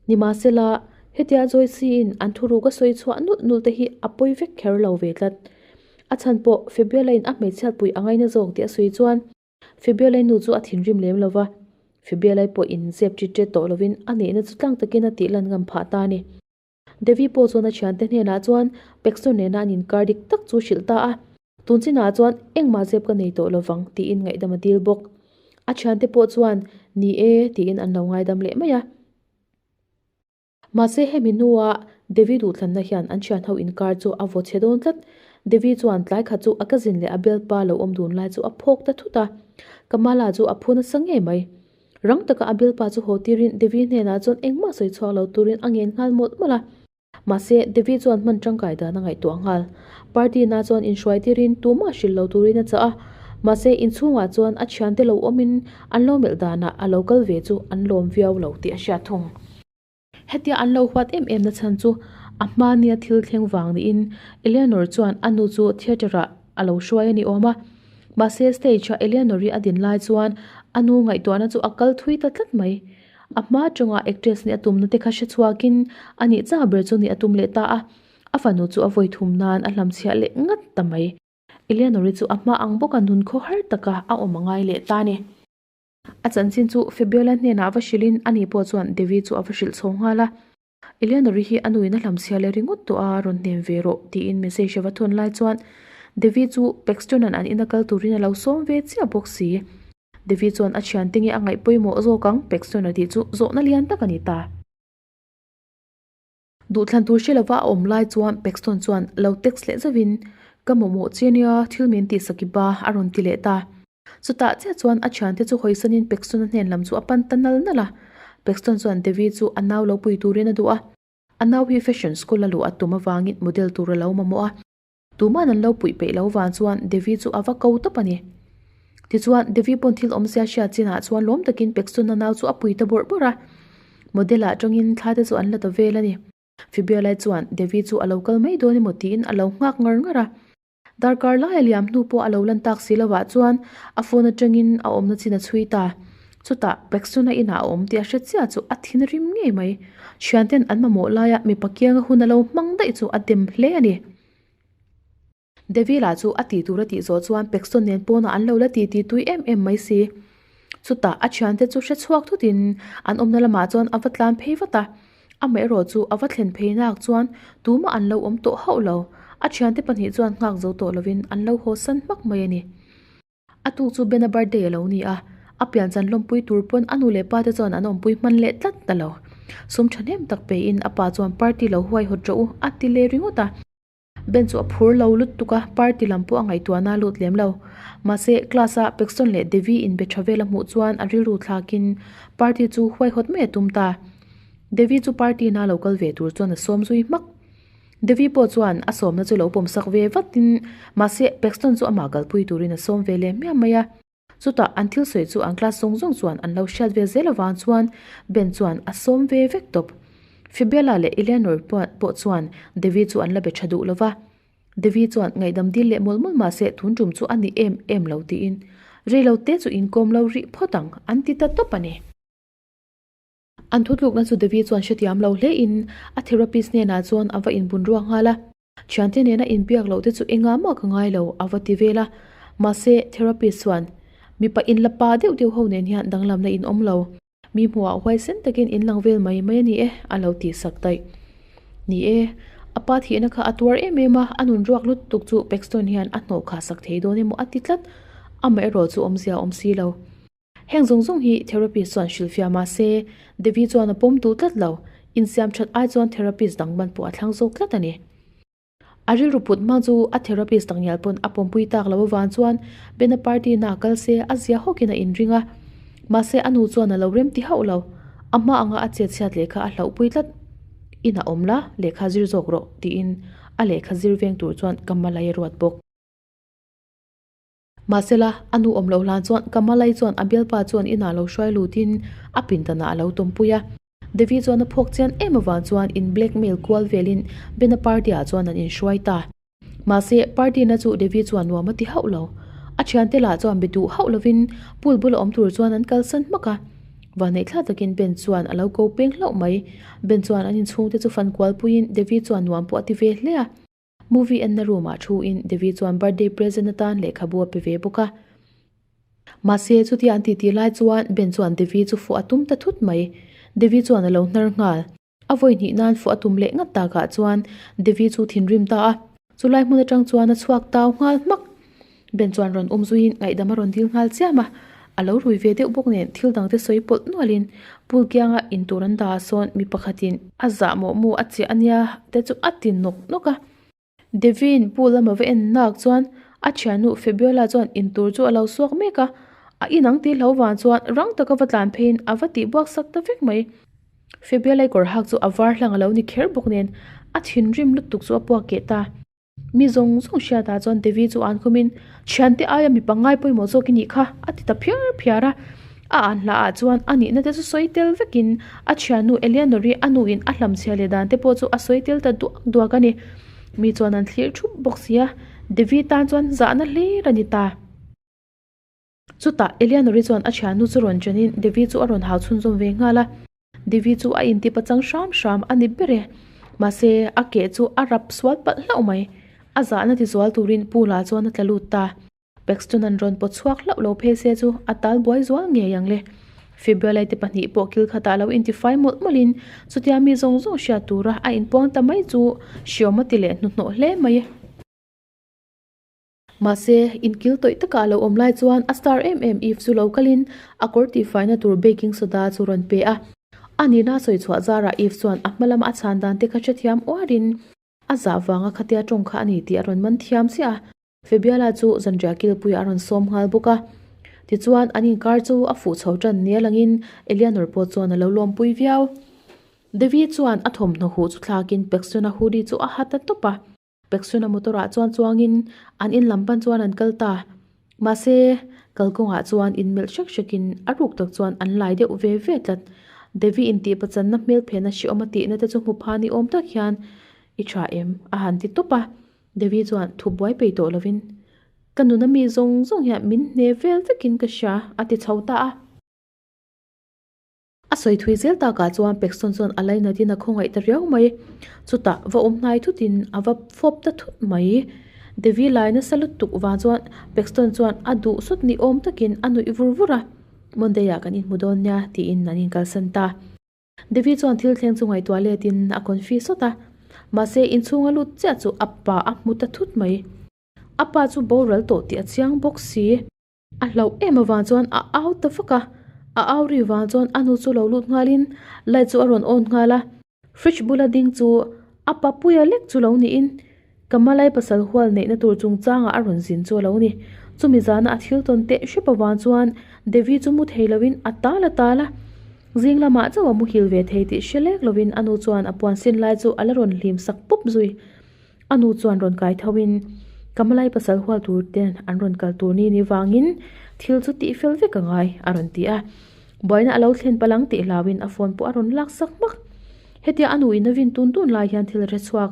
Nimahsela, hetia Joyce-in an thuruk a sawi chhuah nulh nulh te hi a pawi vek kher lo ve tlat. A chhan pawh Febiola-in a hmeichhiat pui a ngaina zawk tih a sawi chuan Febiolai nu chu a thinrim lem lo va, Febiolai pawh in zep tit tet tawh lovin a neihna chu tlang takin a tihlan ngam phah ta a ni. Devi pawh chuan a thiante hnenah chuan Paxton nena an inkar dik tak chu hrilh ta a. Tun sinah chuan engmah zep ka nei tawh lovang tiin ngaihdam a dil bawk. A thiante pawh chuan ni e tiin an lo ngaidam leh mai a. Mahse hemi hnua Devi duhthlanna hian an thianho inkar chu a vawchhe dawn tlat. Devi chuan tlai khat chu a cousin leh a belpa lo awm dun lai chu a phawk ta thut a. Kamala chu a phun a sa ngei mai. Rang taka a belpa chu haw tirin Devi hnenah chuan engmah sawi chhuak lo turin a ngen nghal mawlh mawlh a. Mahse, David chuan hman tangkai dan a ngaihtuah nghal. Party na chuan inhruai tirin tumah hrilh lo turin a chah a. Mahse, inchhungah chuan a thiante lo awmin an lo melh danah a lo kal ve chu an lawm viau lo tih a hriat thung. Hetia an lo huat em emna chhan chu a hma nia thil thleng vang niin Eleanor chuan a nu chu theatre ah a lo hruai a ni awm a. Mahse, stage ah Eleanor-i a din lai chuan a nu ngaihtuahna chu a kal thui ta tlat mai. A hma tawngah actress nih a tumna te kha hre chhuak in a nih chah ber chu nih a tum leh ta a. A fanu chu a vawi thum nan a hlam chhiah leh ngat ta mai. Eleanor-i chu a hma ang bawk a nun khaw har taka a awm a ngai leh ta ni. A chanchin chu Fabiola hnenah a va hrilh in ani pawh chuan Devi chu a va hrilh chho nghal a. Eleanor-i hi a nuin a hlamchhia leh ringawt tawh a, rawn hnem ve rawh, tiin message a va thawn lai chuan Devi chu Paxton-a'n an ina kal turin a lo sawm ve chiah bawk si. Devi chuan a thiante nge a ngaih pawimawh zawk ang, Paxton-a tih chu zawhna lian tak a ni ta. Duhthlan tur hre lova a awm lai chuan Paxton chuan lo text leh zauhin, Ka mawhmawh che nia, thil min tihsak i ba, a rawn ti leh ta. Chutah chiah chuan a thiante chu hawisanin Pekstona hnen lam chu a pan ta nal nal a. Pekstona chuan Devi chu a nau lo pui turin a duh a. A nau hi fashion school a luh a tum avangin model tur a lo mamawh a. Tuman an lo puih peih lo vang chuan Devi chu a va ko tawp a ni. Tichuan, Devi pawn thil awm sia hriat chinah chuan lawm takin Pekstona nau chu a pui ta bawrh bawrh a. Model atangin thla te chu an la ta vel a ni. Fibialai chuan Devi chu a lo kal mai dawn emaw tiin a lo nghak ngar ngar a. Darkar laia liam hnu pawh a lo lan tak si lovah chuan a phone atangin a awmna chin a chhui ta. Chutah Peksona inah a awm tih a hre chiah chu a thin rim ngei mai. Thianten an mamawh laia mipa kianga hun a lo hmang daih chu a dem hle a ni. Devil-a chu a tihtur a tih zawh chuan Pekson nen pawnah an lo la ti ti tui em em mai si. Chutah a thiante chu hre chhuak thutin an awmna lamah chuan a va tlan phei vat a. Amaherawh chu a va thlen phei nak chuan tumah an lo awm tawh hauh lo. A thiante pahnih chuan nghak zo tawh lovin an lo haw san hmak mai a ni. A tu chu Ben-a birthday a lo ni a, a pian chan lawmpui tur pawn a nu leh pa te chuan an awmpui hman leh tlat ta lo. Sum thahnem tak peiin a pa chuan party lo huaihawt rawh u a ti leh ringawt a. Ben chu a phur lo lut tuk a, party lam pawh a ngaihtuahna a lut lem lo. Mahse, class a Paxton leh Devi in be tha vel a hmuh chuan a rilru thlakin party chu huaihawt mai a tum ta. Devi chu party in a lo kal ve tur chuan a sawm zui hmak. Devi pawh chuan a sawmna chu a lo pawmsak ve vatin mahse Paxton chu amah kalpui turin a sawm ve leh hmiam mai a. Chutah an thil sawi chu an class zawng zawng chuan an lo hriat vel zel avang chuan Ben chuan a sawm ve vek tawp. Fibella leh Eleanor pawh chuan Devi chu an la be tha duh lo va. Devi chuan ngaihdam dil leh mawlh mawlh mahse tun tum chu a ni em em lo tiin, Reilote chu inkawm lo rih phawt ang, an ti ta tawp a ni. An thutlukna chu Devi chuan hretiam lo hle in a therapist hnenah chuan a va inbun ruak nghal a, Thiante nena inbiak loh te chu enga mah ka ngai lo a va ti vel a, mahse therapist chuan, Mipa in la pa deuh deuh ho nen hian danglamna in awm lo, mi hmuhah huaisen takin in lang vel mai mai a ni e a lo tih sak daih. Ni e, a pa thihna kha a tuar em em a, a nun ruak lutuk chu Paxton hian a hnawhkhah sak thei dawn emaw a ti tlat, amaherawhchu awmzia a awm si lo. Heng zawng zawng hi therapist chuan hrilh fiah mah se, Devi chuan a pawm duh tlat lo. Insiam that ai chuan therapist dang ban pawh a thlang zawk tlat a ni. A rilru put hmang chu a therapist dang ngial pawn a pawmpui tak lo avang chuan Bena party na a kal se a zia hawkin a inring a. Mahse a nu chuan a lo rem ti hauh lo. A hma anga a chetchhiat lehkha a hlauh pui tlat. In a awm la, lehkha zir zawk rawh, tiin a lehkha zir veng tur chuan ka hma lai a ruat bawk. Mahsela, a nu awm loh hlan chuan Kamalai chuan a bialpa chuan inah lo hruai lutin a pindanah a lo tumpui a. Devi chuan a phawk chian em avang chuan in blackmail kual velin Bena party ah chuan an inhruai ta. Mahse, party na chu Devi chuan nuam a ti hauh lo. A thiante lah chuan be duh hauh lovin pool bula awm tur chuan an kalsan hmak a. Vahneih thla takin Ben chuan a lo ko peng hlauh mai. Ben chuan an inchhungte chu fan kual puiin Devi chuan nuam pawh a ti ve hle a. Movie enna roomah thu in Devi chuan birthday present atan lehkhabu a pe ve bawk a. Mahse, chutia an titih lai chuan Ben chuan Devi chu fuah a tum ta thut mai. Devi chuan a lo hnar nghal. A vawi hnih nan fuah a tum leh ngat takah chuan Devi chu thinrim ta a. Chulai hmun atang chuan a chhuak tau nghal hmak. Ben chuan rawn awm zuiin ngaihdam a rawn dil nghal chiam a, a lo rui ve deuh bawk nen thil dangte sawi pawlh nualin Pul Kianga in tur an dah ah sawn mi pakhatin a zah mawh mawh a chiah ania te chu a ti nawk nawk a. Devi'n Pu lam a va en nak chuan a thiannu Fabiola chuan in tur chu a lo suak mek a, a inang tih hlo vang chuan rang taka va tlan pheiin a va tih buak sak ta vek mai. Fabiola'i kawr hak chu a var hlang a lo ni kher bawk nen a thinrim lutuk chu a puak keh ta. Mi zawng zawng hriatah chuan Devi chu an khawmin, Thiante aia mi pangngai pawimawh zawk i nih kha, a ti ta phiar phiar a. A an hla ah chuan a nihna te chu sawi tel vekin a thiannu Eleanor i a nu in a hlam chhiar leh dan te pawh chu a sawi tel ta duak duak a ni. Mi chuan an thlir thup bawk sia. Devi tan chuan zahna hlir a ni ta. Chutah Eleanor-i chuan a thian nu chu rawn chenin Devi chu a rawn hau chhunzawm ve nghal a. Devi chu a intip a chang hram hram a ni ber e. Mahse a ke chu a rap sual palh hlauh mai. A zahna tizual turin Pu La chuan a tla lut ta. Paxton-a'n rawn pawt chhuak hlauh lo phei se chu a tal buai zual ngei ang le. Febrile-te pahnih pawh kil khatah lo intifai mawlh mawlhin chutia mi zawng zawng hriat tura a inpuang ta mai chu hriawma ti leh hnuhnawh hle mai. Mahse, inkil tawih takah a lo awm lai chuan a star em em Eve chu lo kalin a kawr tihfaina tur baking soda chu rawn pe a. A nihna sawi chhuah zarah Eve chuan a hma lama a chhan dan te kha hre thiam uarin a zah vanga khatia tawng kha a ni tih a rawn man thiam chiah a. Febiala chu zanriah kilpuia a rawn sawm nghal bawk a. Tichuan an inkar chu a fuh chho tan nial angin Eleanor pawh chuan a lo lawmpui viau. Devi chuan a thawmhnaw huh chu thlakin Paxton-a hoodie chu a hat a tawp a. Peksuna motor ah chuan chuangin an in lam pan chuan an kal ta. Mahse, kal kawng ah chuan in melh hrek hrek in a ruk tak chuan an lai deuh ve ve tlat. Devi in tih pachan na hmel phen a hriawm a tih na te chu hmu pha ni awm tak hian i tha em? a han ti tawp a. Devi chuan thu buai pei tawh lo in, Ka nuna mi zawng zawng hian min hne vel vek in ka hria a ti chho ta a. A sawi thui zel takah chuan Pekson chuan a laina din a khawngaih ta riau mai. Chutah va awm hnai thutin a va fawp ta thut mai. Devi lai nasa lutuk vang chuan Pekson chuan a duhsawt ni awm takin a nuih vur vur a, Monday-ah kan inhmu dawn nia, tiin an inkalsan ta. Devi chuan thil thleng chu ngaihtuah letin a confiuse sawt a. Mahse, inchhunga lut chiah chu a pa a hmu ta thut mai. A pa chu boral tawh tih a chiang bawk si. A hlauh em avang chuan a au ta vak a, a au ri vang chuan a nu chu lo lut nghalin light chu a rawn on nghal a, fridge bula ding chu a pa puia lek chu lo niin Kamalai pasal hual neihna tur chung changah a rawn zin chu a lo ni. Chumi zana a thil tawn teh hrep avang chuan Devi chu mu thei loin a tal a tal a, zing lamah chauh a muhil ve thei tih hre lek lovin a nu chuan a puan sin lai chu a la rawn hlim sak pup zui. A nu chuan rawn kai tho in, Ka hmalai pasal hual tur te an rawn kal tur ni ni vang in thil chu tih fel vek a ngai a rawn ti a. Buaina a lo thlen pal ang tih hlau in a phone pawh a rawn lak sak hmak. Hetia a nu in a vin tun tun lai hian thil a hre chhuak.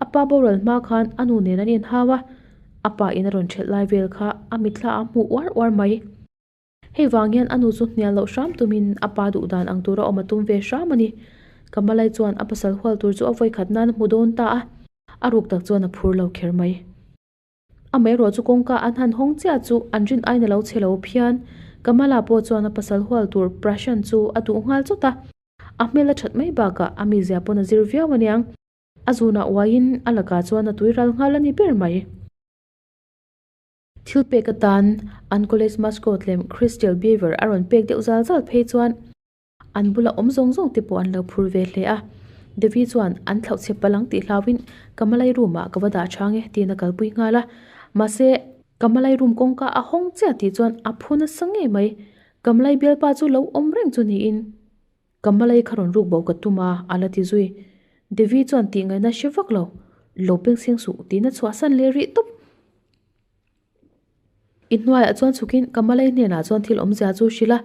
A pa boral hma khan a nu nen an en hau a. A pa in a rawn ṭhelh lai vel kha a mitthla a hmuh uar uar mai. Hei vang hian a nu chu hnial loh hram tumin a pa duh dan ang tur a awm a tum ve hram a ni. Kamalai chuan a pasal hual tur chu a vawikhat nan a hmu dawn ta a, a ruk tak chuan a phur lo kher mai. Amaherawh chu kawngka an han hawng chiah chu an rin aina lo che lo phian Kamala pawh chuan a pasal hual tur Prashant chu a duh nghal chawt a. A hmel a that mai bakah a mizia pawn a zir viau a niang. A zunah uaiin a lakah chuan a tui ral nghal a ni ber mai. Thil pek atan an college mascot lem Crystal Beaver a rawn pek deuh zal zal phei chuan an bula awm zawng zawng te pawh an lo phur ve hle a. Devi chuan an thlauh chhe pal ang tih hlauhin ka malai room ah ka va dah chang e tiin a kalpui nghal a. Mahse ka malai room kawngka a hawng chiah tih chuan a phun a sa ngei mai. Ka malai bialpa chu lo awm reng chu niin. Ka hmalai kha rawn ruk boh ka tum a, a la ti zui. Devi chuan tih ngaihna a hre vak lo, Lo peng seng suh, tihna chhuah san leh rih tawp. I hnuaiah chuan chhukin ka hmalai hnenah chuan thil awmzia chu hrilh a.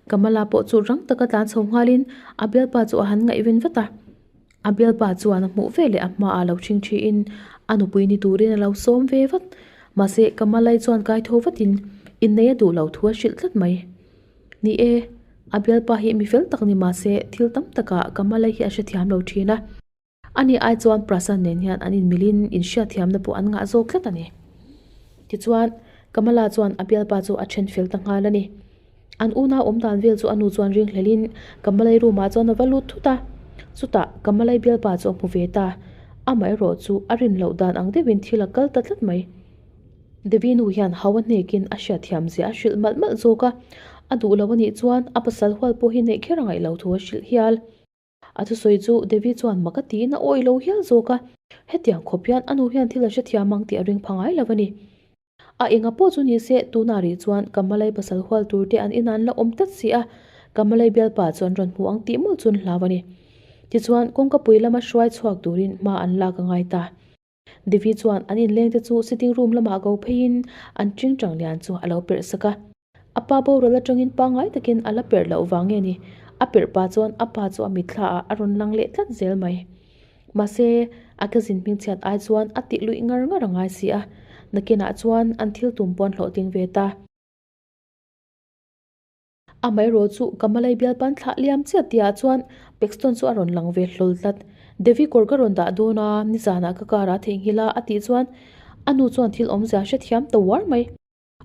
Ka hmala pawh chu rang taka tlan chho nghalin a bialpa chu a han ngaih ven vat a. A bialpa chuan a hmuh ve leh a hma ah lo chhing thi in a nupui ni turin a lo sawm ve vat. Mahse, Kamalai chuan kai tho vat in, I nei a duh lo thu a hrilh tlat mai. Ni e, a bialpa hi mi fel tak ni mahse, thil tam tak ah Kamalai hi a hre thiam lo thin a. A ni ai chuan Prasan nen hian an in mil in in hria thiam na pawh an ngah zawk tlat a ni. Tichuan, Kamala chuan a bialpa chu a then fel ta nghal a ni. An una awm dan vel chu a nu chuan ring hlel in Kamalai room ah chuan a va lut thut a, chutah Kamalai bialpa chu a hmu ve ta, amaherawh chu a rin loh dan ang deuh in thil a kal ta tlat mai. Devi nu hian hau a hnek in a hria thiam zia a hrilh malh malh zawk a, a duh loh a nih chuan a pasal hual pawh hi neih kher a ngaih lo thu a hrilh hial. A thusawi chu Devi chuan maka tiin a awi lo hial zawk a, hetiang khawp hian a nu hian thil a hrethiam ang tih a ring pha ngai lo a ni. A eng a pawh chu ni se, tunah rih chuan Kamalai pasal hual turte an inah an la awm tlat si a, Kamalai bialpa chu an rawn hmu ang tih mawl chu an hlau a ni. Tichuan kawngkapui lama hruai chhuak turin hma an lak a ngai ta. Devi chuan an inleng te chu sitting room lamah go pheiin an ṭing ṭang lian chu a lo perh sak a. A pa borual aṭangin pangngai takin a la perh loh vang nge ni? A perh pah chuan a pa chu a mitthlaah a rawn lang leh tlat zel mai. Mahse, a ka zin hming chhiat ai chuan a tih luih ngar ngar a ngai si a. Nakinah chuan an thil tum pawh an hlawh ding ve ta. A Mairaw chu ka Malay bial pan thlah liam chiah ti ah chuan Paxton chu a rawn lang ve hlawl tlat. Devi kawr ka rawn dah dawn a, ni zan ah ka kar ah theng hil a a tih chuan a nu chuan thil awmzia a hre thiam tawh var mai.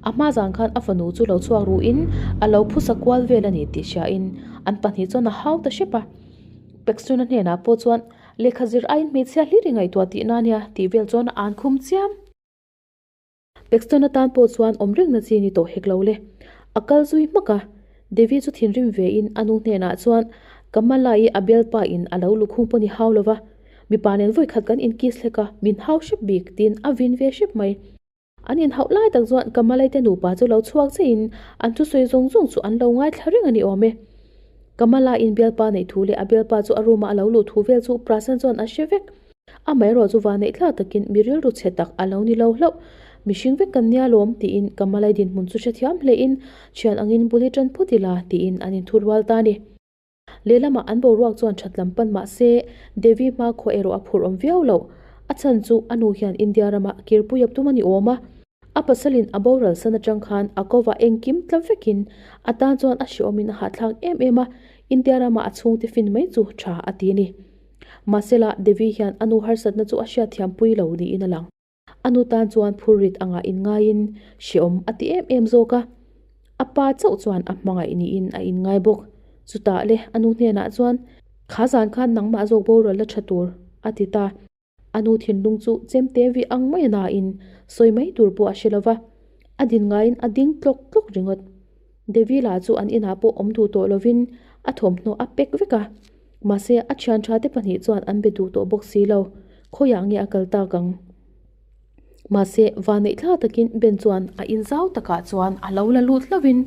A hma zan khan a fanu chu lo chhuak ruh in a lo phusa kual vel a ni tih hria in an pahnih chuan a hau ta hrep a. Paxton a hnen ah pawh chuan lehkha zir aiin hmeichhia hlir i ngaihtuah tih na nia tih vel chuan a an khum chiam. Paxton atan pawh chuan awm reng na chi ni tawh hek lo le. A kal zui hmak a, Devi chu thinrim ve in a nu hnenah chuan, Ka hma lai a bel pa in a lo lukhung pawh ni hau lo va, mipa nen vawi khat kan in kiss hlek a, min hau hrep bik, tiin a vin ve hrep mai. An in hauh lai tak chuan ka hma lai te nupa chu lo chhuak che in an thu sawi zawng zawng chu an lo ngai thla reng a ni awm e. Ka hma lai in bel pa neih thu leh a bel pa chu a room ah a lo luh thu vel chu Prasan chuan a hre vek. Amaherawh chu vâneih tla takin mi rilru chhe tak a lo ni lo hlauh. Mihring vek kan nia lawm tiin Kamalai dinhmun chu hre thiam hlehin, Ṭhian angin bul hi ṭan phut ila tiin an inthu rual ta a ni. Lehlamah an boruak chuan ṭhatlam pan mah se, Devi hma khua erawh a phur awm viau lo. A chhan chu a nu hian India rama kirpui a tum a ni awm a, a pasalin a boral san aṭang khan a kova engkim tla vekin a tan chuan a hreawmin a hahthlak em em a, India rama a chhungte fin mai chu ṭha a ti a ni. Mahsela, Devi hian a nu harsatna chu a hriatthiampui lo niin a lang. A nu tan chuan phurrit angah inngain hreawm a ti em em zawk a. A pa chauh chuan a hmangaih niin a inngai bawk. Chutah le a nu hnenah chuan, Kha zan khan nangmah zawk borual la tha tur a ti ta. A nu thinlung chu chem te viah ang mai nain sawi mai tur pawh a hre lo va. A din ngaiin a ding tlawk tlawk ringawt. Devila chu an inah pawh awm duh tawh lovin a thawmhnaw a pek vek a. Mahse, a thianṭha te pahnih chuan an be duh tawh bawk si lo. Khawiah nge a kal tak ang? Mahse, vaneih thla takin Ben chuan a in zau takah chuan a lo la lut hlovin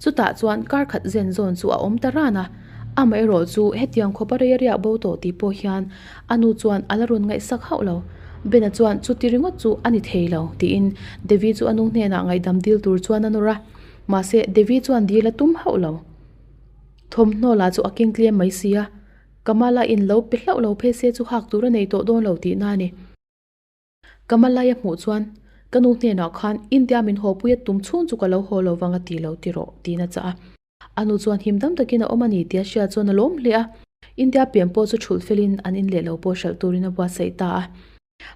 chutah chuan kar khat zen zawn chu a awm ta ran a. Amaherawh chu, hetiang khawpa rei a riak bo tawh tih pawh hian a nu chuan a la rawn ngaihsak hauh lo. Ben-a chuan chuti ringawt chu a ni thei lo, tiin Devi chu a nu hnenah ngaihdam dil tur chuan a nawr a. Mahse, Devi chuan dil a tum hauh lo. Thawmhnaw lah chu a kengtlem mai si a, Kamala in lo pe hlauh lo phei se chu hak tur a nei tawh dawn lo tihna a ni. Kamalai a hmuh chuan, Ka nu hnenah khan India min haw pui a tum chhung chu ka lo haw lo vang a ti lo ti rawh, tiin a chah a. A nu chuan, Him dam takin a awm a ni, tia hriat chuan a lawm hle a. India pian pawh chu chhulh felin an inleh lo pawh hralh turin a buatsaih ta a.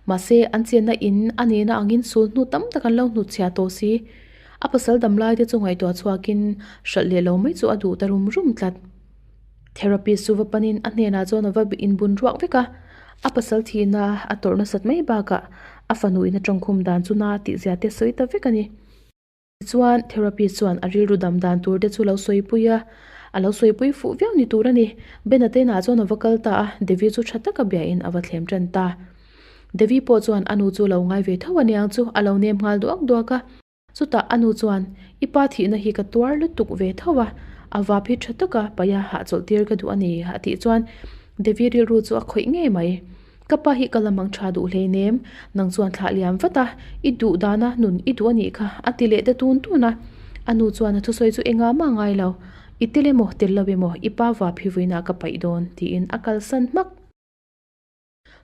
Mahse, an chianna in a nena angin sul hnu tam tak an lo hnut chhia tawh si. A pasal damlaite chu ngaihtuah chhuakin hralh leh lo mai chu a duh ta rum rum tlat. Therapist chu va panin a hnenah chuan a va inbun ruak vek a. A pasal thihna a tawrh nasat mai bakah a fanu ina tangkhum dan chu na tihzia te sawi ta vek a ni. Tichuan, therapy chuan a rilru dam dan tur te chu lo sawipui a, a lo sawipui fuh viau ni tur a ni. Ben-a Tena chuan a va kal ta a, Devi chu tha taka biain a va thlem tan ta. Devi pawh chuan a nu chu lo ngai ve tho aniang chu, a lo nem nghal duak duak a. Chutah a nu chuan, I pa thihna hi ka tuar lutuk ve tho a, a vap hi tha taka paia hah chawlhtir ka duh a ni, a tih chuan Devi rilru chu a khawih ngei mai. Ka pa hi ka la mang tha duh hlein em? Nang chuan thlah liam vat a, i duh dan a nun i duh a nih kha, a ti leh ta tun tun a. A nu chuan a thusawi chu eng a mah ngai lo, i tel emaw tel lo emaw i pa va phivuinah ka paih dawn tiin a kalsan hmak.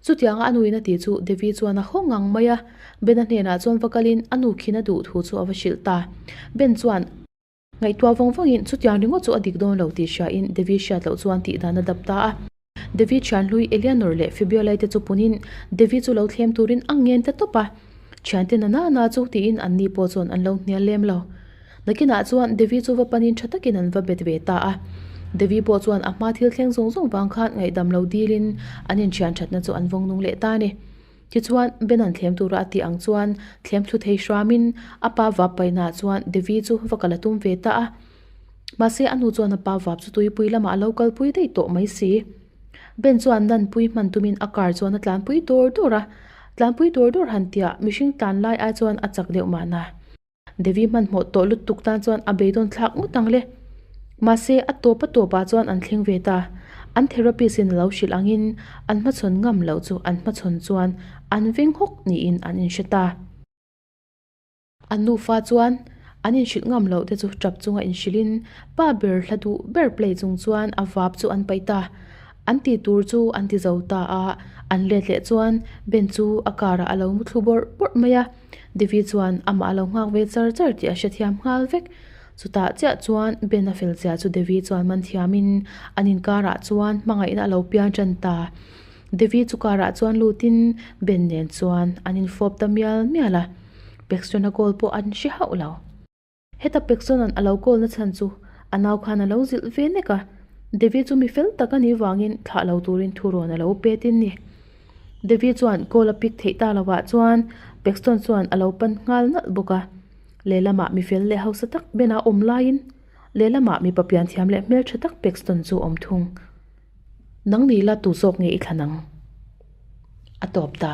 Chutianga a nu in a tih chu Devi chuan a haw ngang mai a, Ben a hnenah chuan va kalin a nu khin a duh thu chu a va hrilh ta. Ben chuan. Ngaihtuah vang vangin chutiang ringawt chu a dik dawn lo tih hriain Devi hriat loh chuan tih dan a dap ta a. Devi thianhlui Eleanor leh Fibiola-i te chu punin Devi chu lo thlem turin a ngen ta tawp a. Thiante nana nana chu tiin anni pawh chuan an lo hnial lem lo. Nakinah chuan Devi chu va panin tha takin an va bet ve ta a. Devi pawh chuan a hma thil thleng zawng zawng vang khan ngaihdam lo dilin an inthianthatna chu an vawng nung leh ta a ni. Tichuan, Ben an thlem tura a tih ang chuan thlem thuthei hruamin a pa vap paihnaah chuan Devi chu va kal a tum ve ta a. Mahse, a nu chuan a pa vap chu tuipui lamah a lo kal pui daih tawh mai si. Ben chuan lanpui hman tumin a car chuan a tlanpui dawr dawr a. Tlanpui dawr dawr han tia mihring tlan lai ai chuan a chak deuh mahna. Devi hmanhmawh tawh lutuk tan chuan a beidawn thlak ngawt ang le. Mahse, a tawp a tawp ah chuan an thleng ve ta. An therapist in a lo hrilh ang in an hmachhawn ngam loh chu an hmachhawn chuan an veng hawk niin an in hre ta. A nufa chuan an in hrilh ngam loh te chu tap chunga in hrilh in pa ber hla duh ber play chung chuan a vap chu an paih ta. An ti tur chu an ti zo ta a, an let leh chuan Ben chu a car ah a lo mu thlu bawrh bawrh mai a. Devi chuan amah a lo nghak ve char char tih a hrethiam nghal vek. Chutah chiah chuan Ben a fel chiah chu Devi chuan man thiamin an inkarah chuan hmangaihna a lo piang tan ta. Devi chu karah chuan lutin Ben nen chuan an infawp ta mial mial a. Pekstrana goal pawh an hre hauh lo. Heta Peksonan a lo call-na chhan chu a nau khan a lo zilh ve nek a, Devi chu mi fel tak a nih vangin thlah lo turin thu rawn a lo pet in ni. Devi chuan call a pick theih ta lovah chuan Pekson chuan a lo pan nghal nalh bawk a, lehlamah mi fel leh hausa tak Bena awm laiin lehlamah mipa pianthiam leh hmeltha tak Pekson chu awm thung. Nang ni ila tu zawk nge i thlan ang? a tawp ta.